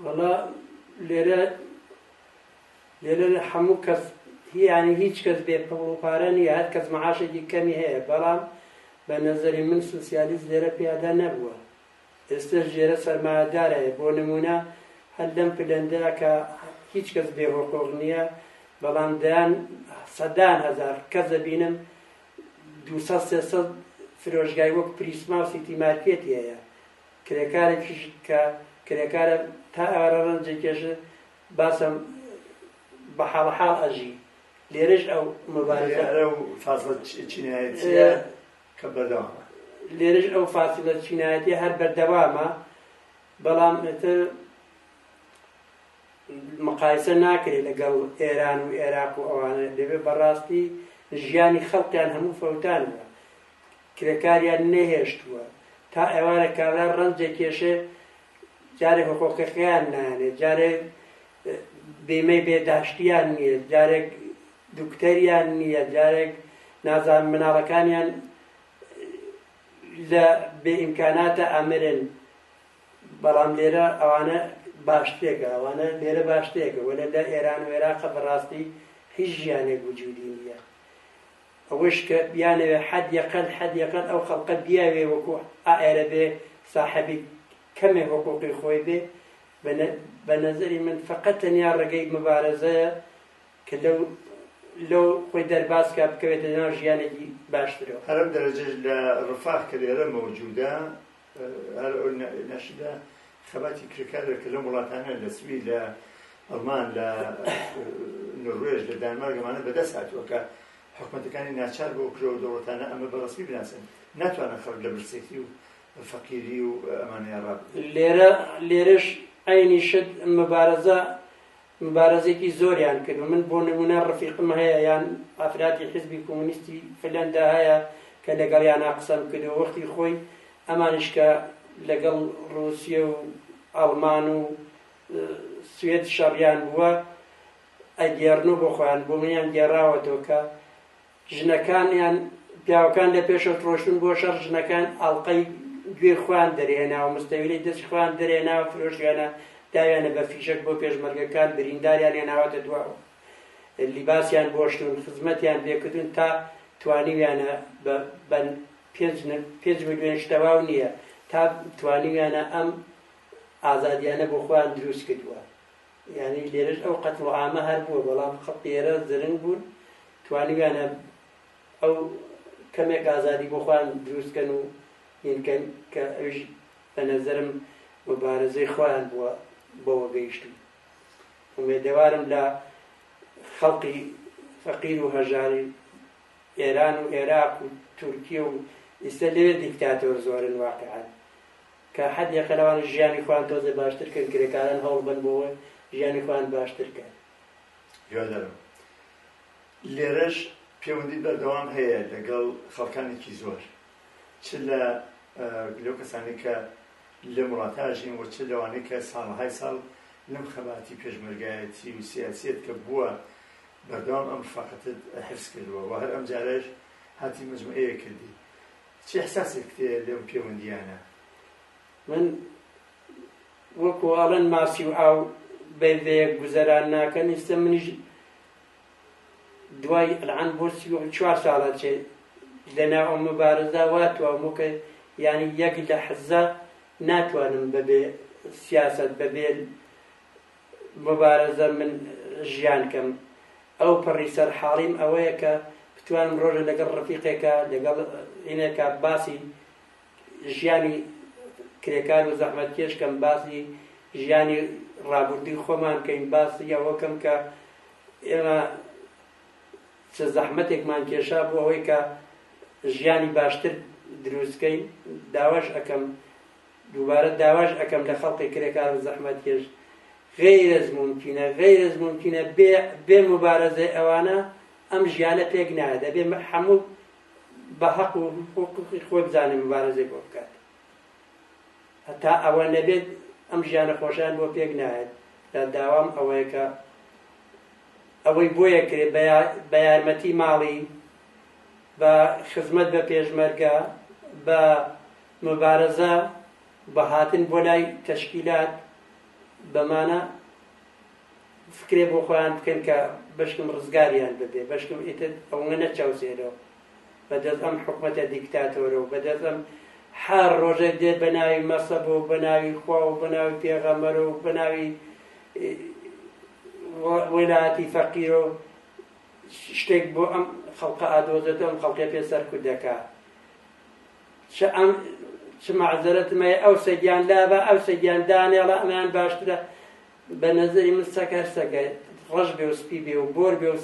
وەڵا لێرە لێرە لە هەموو کەس هیانی هیچ کەس بێ پڕ و پارە نیە هەر کەس مەعاشێکی کەمی هەیە بەڵام بە نەزەری من سوسیالیست لێرە پیادا نەبووە ئێستەش لێرە سەرمایەدار هەیە، بۆ نموونە هەر لەم پلەندە کە هیچ کەس بێ حقوق نییە، بەڵام دەیان سەدان هەزار کەس دەبینم دوو سەد سێ سەد فرۆشگای وەک پریسما و سیتی مارکێتی هەیە، کرێکارێکیش کە کرێکارە تا ئێوارە ڕەنج دەکێشێ، باسم بە حاڵەحاڵ ئەژی. لێرەش ئەو مبارزە. ئەرە و فازڵە چینایەتییە کە بەردەوامە. لێرەش ئەو فاسیڵە چینایەتیە هەر بەردەوامە، بەڵام ئیتر مقایسە ناکرێت لەگەڵ ئێران و ئێراق و ئەوانە، دەبێت بەڕاستی ژیانی خەڵکیان هەموو فەوتانە، کرێکاریان نەهێشتووە، تا ئێوارە کابرا ڕەنج دەکێشێ، جارێ حقوقەکەیان نایەنێ، جارێ بیمەی بێداشتیان نییە، جارێک دکتۆریان نیە جارێک نازان مناڵەکانیان لە بێ ئیمکاناتە ئەمرن بەڵام لێرە ئەوانە باشتێکە ئەوانە لێرە باشتێکە وەلە لە ئێران و عێراقە بەڕاستی هیچ ژیانێک وجودی نیە ئەوەش کە بیانەوێ حەد یەقەل حەد یەقەل ئەو خەڵقە بیاوێ وەکو ئائێرە بێ ساحەبی کەمێ حقوقی خۆی بێ بە نەزەری من فقط تەنیا ڕێگەی مبارەزەیە کە لەو لەو خۆی دەرباز کا بکەوێتە ناو ژیانێکی باشترەوە. هەر ئەو دەرەجەش لە ڕفاق کە لێرە مەوجودە، هەر ئەو نەشیدە خەباتی کرێکارە کە لەم وڵاتانە لە سوید لە ئەڵمان لە نروێژ لە دانمارک ئەمانە بەدەست هاتووە کە حکومەتەکانی ناچار بۆ کرەوە دەوڵەتانە ئەمە بە ڕسمی بناسن ناتوانن خەڵک لە برسێتی و فەقیری و ئەمانەیە ڕاب لێرە لێرەش عینی شت مەبارەزە مبارزەێکی زۆریان کرد و من بۆ نمونە ڕفیقم هەیە یان ئافراتی حزبی کۆمونیستی فلەندا هەیە کە لەگەڵیانا قسەم کردو وەختی خۆی ئەمانیش کە لەگەڵ ڕوسیە و ئەڵمان و سوێد شەڕیان بووە ئەگێڕن و بۆ خۆیان بۆ منیان گێڕاوەتەوە کە ژنەکانیان پیاوەکان لە پێشەوت ڕۆشتن بۆ شەڕ ژنەکان ئاڵقەی گوێی خوان دەرێناوە مستەویلی دەست خوان دەرێناوە فرۆشیانە داویانە بە فیشەک بۆ پێشمەرگەکان برینداریان هێناوەتە دواوە لیباسیان بۆشتون خزمەتیان بێکردون تا توانیویانە بە پێنج میلیۆن شتەواو نییە تا توانیویانە ئەم ئازادیانە بۆ خۆیان دروست کردووە یانی لێرەش ئەو قەتڵو عامە هەر بووە بەڵام خەڵکی ئێرە زرنگ بوون توانیویانە ئەو کەمێک ئازادی بۆ خۆیان دروست کەن و هینکەن کە ئەویش بە نەزەرم مبارزەی خۆیان بووە بەوە گەیشتن ئومێدەوارم لە خەڵقی فەقیر و هەژاری ئێران و عێراق و تورکیە و ئیستا لێ دیکتاتۆر زۆرن واقعان کە حەدێکە لەوانەش ژیانی خۆیان تۆزێ باشتر کەن، کرێکاران هەوڵ بەن بۆ ئەوەی ژیانی خۆیان باشتر کەن. هیوادارم. لێرەش پێوەندی بەردەوام هەیە لەگەڵ خەڵکانێکی زۆر، چ لە لەو کەسانەی کە لەم وڵاتە ئاژین و چ لەوانەی کە ساڵەهای ساڵ لەم خەباتی پێشمەرگایەتی و سیاسیەت کە بووە بەردەوام ئەم ڕفاقەتت حفز کردووە و هەر ئەمجارەش هاتی مەجموعەیەک کردی. چ ئیحساسێکت هەیە لەو پێوەندییانە؟ من وەکوو ئەڵێن ماسی و ئاو بەیەک گوزەران ناکەن، ئیستە منیش دوای ئەلعان بۆ چوار ساڵە چێ لەناو ئەو مبارزە وا توامو کە یعنی یەک لەحزە ناتوانم بەبێ سیاسەت بەبێ موبارزە من ژیان کەم ئەو پەڕی سەر حاڵیم ئەوەیە کە بتوانم ڕۆژە لەگەڵ ڕفیقێکە لەگەڵ ئینێکە باسی ژیانی کرێکار و زەحمەت کێشکەم باسی ژیانی ڕابردووی خۆمان کەین باسی ئەوەکەم کە ئێمە چ زەحمەتێکمان کێشا بۆ ئەوەی کە ژیانی باشتر دروستکەین داواش ئەەکەم دووبارە داواش ئەکەم لە خەڵقی کرێکار و زەحمەتکێش غیر از ممکنە غیر از ممکنە بێ مبارەزەی ئەوانە ئەم ژیانە پێک نایە دەبێ هەموو بە هەق و حقوقی خۆی بزانێ مبارەزەی بۆ بکات هەتا ئەوە نەبێت ئەم ژیانە خۆشیان بۆ پێک نایەت لە داوام ئەوەیە کە ئەوەی بۆیە کرێ بە یارمەتی ماڵی بە خزمەت بە پێشمەرگە بە مبارزە بە هاتن بۆ لای تەشکیلات بە مانا فکرێ بۆ خۆیان بکەن کە بەشکم ڕزگاریان ببێ بەشکم ئیتر ئەوە نەچاوسێرەوە بەدەست ئەم حکومەتە دیکتاتۆرە و بەدەست ئەم هەر ڕۆژێ دێت بە ناوی مەسەب و بە ناوی خوا و بە ناوی پێغەمەر و بە ناوی وەلایەتی فەقیر و شتێک بۆ ئەم خەڵقە ئادۆزێت ئەم خەڵکە پێ سەرکوت دەکات چ ئەم چ مەعزەرەتم هەیە ئەو سەگیان لابە ئەو سەگیان دانێڵە ئەمیان باشترە بە نەزەری من سەگ هەر سەگە ڕەش بێ و سپی بێ و بۆر بێ و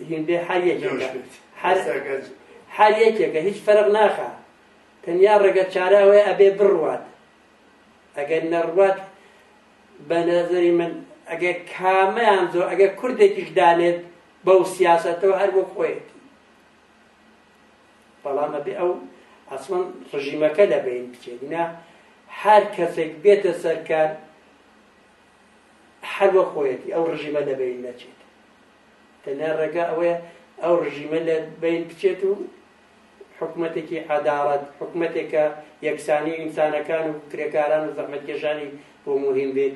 هیندێ هەر یەکێکە هەر سەگە هەر یەکێکە هیچ فەرق ناخا تەنیا ڕێگە چاراوەیە ئەبێ بڕوات ئەگەر نەڕوات بە نەزەری من ئەگەر کامەیان زۆر ئەگەر کوردێکیش دانێت بەو سیاستەوە هەر بۆ خۆیەتی بەڵام ئەبێ ئەو ئەسڵەن ڕژیمەکە لە بەین بچێت نا هەر کەسێک بێتە سەرکار هەر وە خۆیەتی ئەو ڕژیمە لە بەین نەچێت تەنیا ڕێگا ئەوەیە ئەو ڕژیمە لە بەین بچێت و حکوومەتێکی عداڵەت حکوومەتێکە یەکسانی ئینسانەکان و کرێکاران و زەحمەتکێشانی بۆ مهم بێت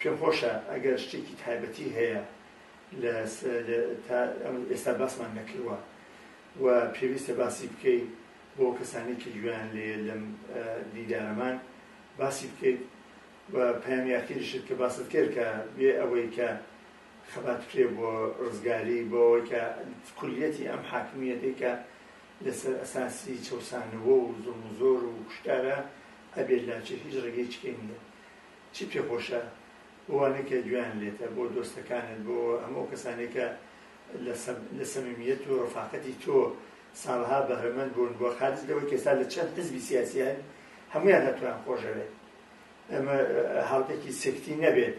پێم خۆشە ئەگەر شتێکی تایبەتی هەیە لە ئێستا باسمان نەکردوە و پێویستە باسی بکەیت بۆ کەسانێکی گوێیان لێ لەم دیدارەمان باسی بکەیت و پەیامیاکەیشت کە باست کرد کە بێ ئەوەی کە خەبات کرێ بۆ ڕزگاری بۆەوەی کە کولیەتی ئەم حاکمیەتی کە لەسەر ئەساسی چەوسانەوە و زوڵم و زۆر و کوشتارا ئەبێت لاچێ هیچ ڕێگەی چکەی نیە چی پێ خۆشە بۆوانەی کە گوێیان لێتە بۆ دۆستەکانت بۆ هەموو کەسانەی کە لە سەمیمیەت و ڕفاقەتی تۆ ساڵها بەهرەمەند بوون بۆ خارج لەوەی کە ئێستا لە چەند حزبی سیاسیان هەموویان هەتوان خۆشەوێت ئەمە هاوتەکی سکتی نەبێت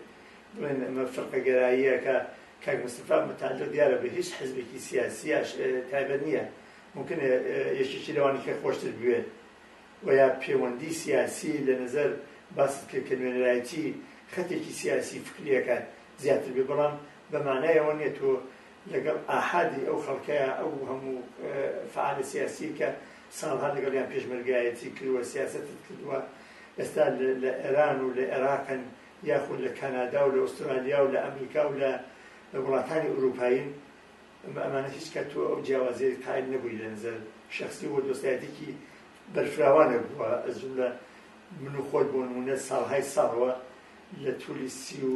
بڵێن ئەمە فرقە گەراییەکە کاک مستفا متعلق دیارە بە هیچ حزبێکی سیاسیش تایبەت نییە ممکن یەکێکی لەوانی کە خۆشتر بوێت و یا پەیوەندی سیاسی لە نظر باست کرد کە نوێنەرایەتی خەتێکی سیاسی فکریەکان زیاتر بێ بەڵام بەمانایەوە نیە تۆ لەگەڵ ئاحادی ئەو خەڵکەیە ئەو هەموو فعالە سیاسی کە ساڵها لەگەڵیان پێشمەرگایەتی کردوە سیاست کردووە ئێستا لە ئێران و لە ئێراقن یاخود لە کانادا و لە ئوسترالیا و لە ئەمریکا و لە وڵاتانی ئورووپایین ئەمە ئەمانە هیچ کە تۆ ئەو جیاوازیێت قائل نەبووی لە نزەر شخصی و دۆستایەتێکی بەرفراوانە بووە ئەزوولە من و خۆت بۆ نمونە ساڵهای ساڵەوە لە تولی سی و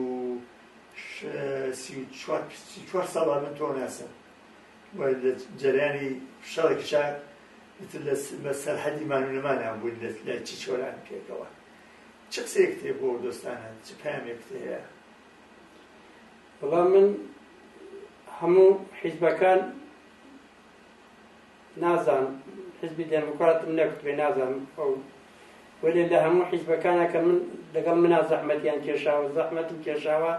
چوار ساڵە من تۆ ناسم و لە جەریانی شەڕی کچاک ئیتر لە بە سەرحەدی مان و نەمانیان بووین لە لای چی چۆلان پێکەوە چ قسەیەکت هەیە بۆ دۆستانە چ پامێکت هەیە بەڵام من هەموو حیزبەکان نازان حزبی دێموکراتم نەکوێ نازان ئەو وەێ لە هەموو حیزبەکانە کە من لەگەڵ منا زەحمەتیان کێشاوە زەحمەتم کێشاوە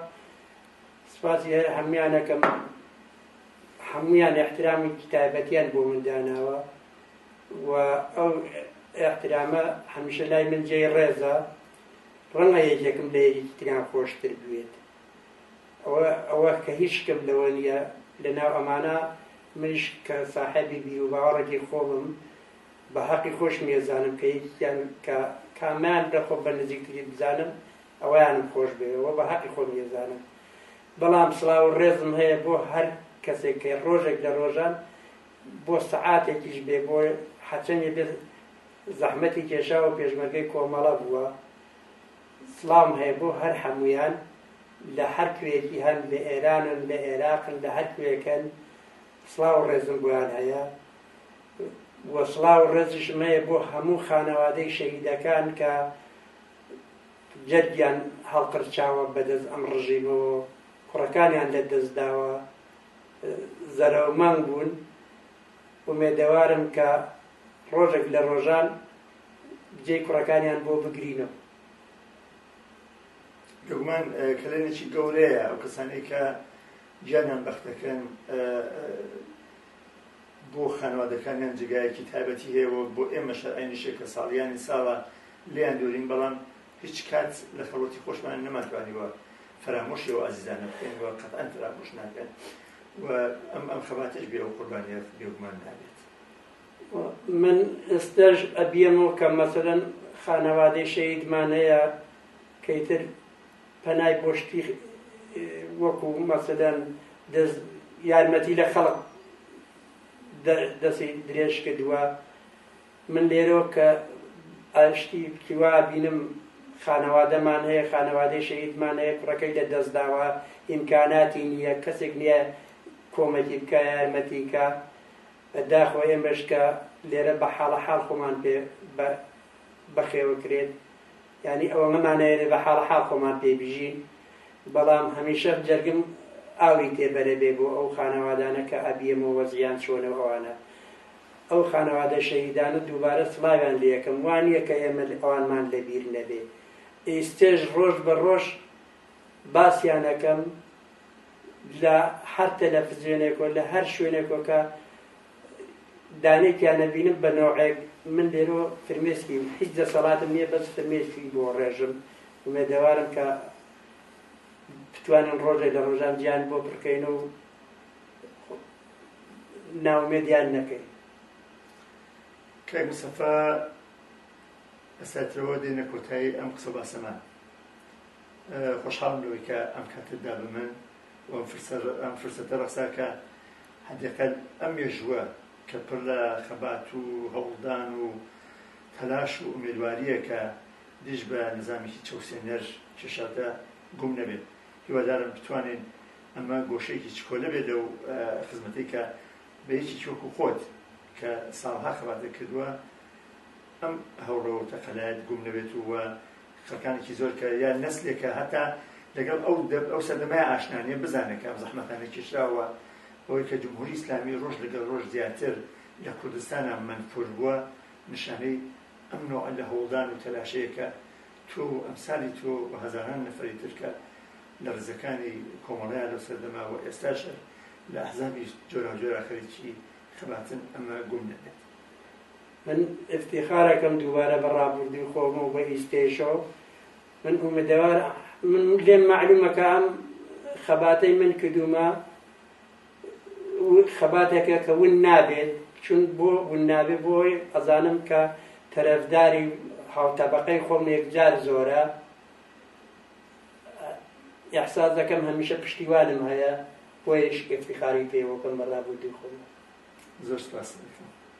سپاسی هەر هەمویانەکەم هەموویان ئیحترامێکی تایبەتیان بۆ من داناوە و ئەو ئیحترامە هەمیشە لای من جێی ڕێزە ڕەنگە یەکێکم لە یەکێکی تریان خۆشتر بوێت ئەوە کە هیچ شتم لەوە نیە لەناو ئەمانە منش کە ساحەبی بیر و باوەڕێکی خۆمم بە حەقی خۆش مێزانم کە یەکیان کە کامیان لە خۆ بە نزیکتری بزانم ئەویانم خۆش بێەوە بە حەقی خۆم مێزانم بەڵام سڵاو و ڕێزم هەیە بۆ هەر کەسێک کە ڕۆژێک لە ڕۆژان بۆ سەعاتێکیش بێ بۆ حەچەنی بێت زەحمەتی کێشا و پێشمەرگەی کۆمەڵە بووە سڵام هەیە بۆ هەر هەمویان لە هەر کوێکی هەن لە ئێرانن لە عێراقن لە هەر کوێکەن سڵاو و ڕێزم بۆیان هەیە وە سڵاو و ڕێزیشم هەیە بۆ هەموو خانەوادەی شەهیدەکان کە جەرگیان هەڵقرچاوە بەدەست ئەم ڕژیمەوە و کوڕەکانیان لەدەست داوە زەرەومەنگ بوون ئومێدەوارم کە ڕۆژێک لە ڕۆژان جێی کوڕەکانیان بۆ بگرینەوە دەگومان کەلێنێکی گەورەیە ئەو کەسانی کە گیانیان بەختەکەن بۆ خانەوادەکانیان جێگایەکی تایبەتی هەیە و بۆ ئێمە شەرعێنیشە کە ساڵیانی ساڵە لێیان دورین بەڵام هیچ کات لە خەڵوەتی خۆشمان نەمانتوانیوە فەرامۆشی ئەو ئازیزانە بکەین و قەتئەن فەرامۆش ناکەن و ئەم ئەم خەباتەش بێ ئەو قوربانیە بێگومان نابێت من ئێستەش ئەبیەمەوە کە مەسەلەن خانەوادەی شەهیدمان هەیە کەیتر پەنای بۆ شتی وەکو مەسەدەن دەست یارمەتی لە خەڵک دەستی درێژ کردووە من لێرۆ کە ئاشتی کیوا بینم خانەوادەمان هەیە خانەوادەی شەهیدمان هەیە کوڕەکەی لە دەست داوە ئیمکاناتی نییە کەسێک نییە کۆمەکی بکە یارمەتیکە داخۆ ئێمەشکە لێرە بە حاڵە حاڵ خۆمان پێ بەخێوە کرێت یانی ئەوە مەمانەوێ بە حاڵە حاڵ خۆمان پێی بژین بەڵام هەمیشە جەرگم ئاوی تێبەرێ بێ بۆ ئەو خانەوادانە کە ئەبیەمەوە وەزیان چۆنە و ئەوانە ئەو خانەوادە شەهیدان و دووبارە سڵاویان لە یەکەم وانە کە ئێمە ئەوانمان لەبیر نەبێ ئیستێژ ڕۆژ بە ڕۆژ باسیانەکەم لە هەر تەلەفزیۆنێکۆ لە هەر شوێنێکۆکە دانێکیان ئەبینم بە نەوعێک من لێرۆ فرمێسکیم هیچ دەسەڵاتم نییە بەس فرمێسکی بۆ ڕێژم ومێدەوارم کە بتوانن ڕۆژێ لە ڕۆژان جیان بۆ پڕکەین و ناومێدیان نەکەین کاک مسەفا ئەساترەوە دێنە کۆتایی ئەم قسە باسەمان خۆشحاڵم لەوەی کە ئەم کاتتدا بە من ئەم فرسەتە ڕەخساکە حەدەکەت ئەم مێژووە کە پڕ لە خەبات و هەوڵدان و تەلاش و ئومێدوارییە کە دژ بە نیزامێکی چەوسێنەر کێشاوتە، گوم نەبێت. هیوادارم بتوانین ئەمە گۆشەیەکی چکۆلە بێت لەو خزمەتەی کە بە یەکێکی وەکوو خۆت کە ساڵها خەباتت کردووە ئەم هەوڵە و تەقەلایەت گوم نەبێت و خەلکانێکی زۆر کە یا نەسلێکە هەتا لەگەڵ ئەو ئەو سەردەمای ئاشنانە بزانێت کام زەحمەتانە کێشراوە ئەوەی کە جمهوری ئیسلامی ڕۆژ لەگەڵ ڕۆژ زیاتر لە کوردستانە منفور بووە نیشانەی ئەم نوع لە هەوڵدان و تەلاشەیەکە تۆ ئەمسالی تۆ و هەزاران نەفری ترکە لە ڕزەکانی کۆمەڵەیە لەو سەردەما و ئێستاش لە ئەحزابی جۆراجۆرا خەریکی خەباتن ئەمە گوم نەبێت من افتیخار ئەکەم دووبارە بە ڕابوردوی خۆم و بە ئیستێشەوە من ئومدەوار من لێم معلومە کە ئەم خەباتەی من کردومە خەباتەکە کە ون نابێت چون بۆ ون نابێت بۆی ئەزانم کە تەرەفداری هاوتەبقەی خۆم یەکجار زۆرە احساس دەکەم هەمیشە پشتیوانم هەیە بۆیش افتخاری پێوەکەم بە ڕابوردوی خۆم زۆر سپاس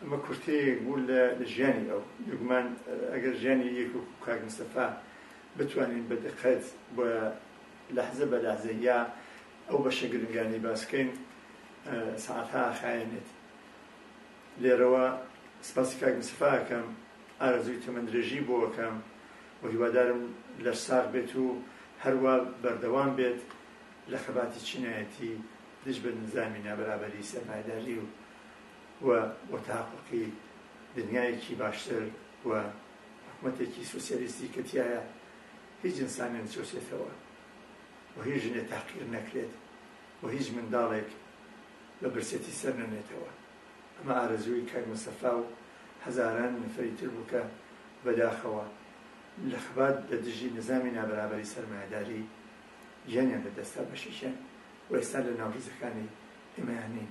ئەمە کورتەیەک بوو لە ژیانی ئەو، بێگومان ئەگەر ژیانی یەک وەکو کاک مستەفا بتوانین بە دقەت بە لەحزە بە لەحزە یا ئەو بەشە گرنگانەی باس بکەین سەعاتها ئاخایەنێت. لێرەوە سپاسی کاک مستەفا ئەکەم، ئارەزووی تەمەندرێژی بۆ ئەکەم و هیوادارم لەش ساغ بێت و هەروا بەردەوام بێت لە خەباتی چینایەتی دژ بە نیزامی نابەرابەری سەرمایەداری و و وەتاحوقی دنیایەکی باشتر و حکومەتێکی سۆسیالیستی کە تیایا هیچ ئینسانێ نەچەوسێتەوە و هیچ ژنێ تاقیر نەکرێت و هیچ منداڵێک بە برسێتی سەر نەنێتەوە ئەمە ئارەزووی کاک مستەفا و هەزاران نەفەری تر بوو کە بەداخەوە لە خەبات لە دژی نیزامی نابەرابەری سەرمایەداری گیانیان لەدەستدا بەشێکیان و ئێستا لە ناو ڕیزەکانی ئێمەیان نین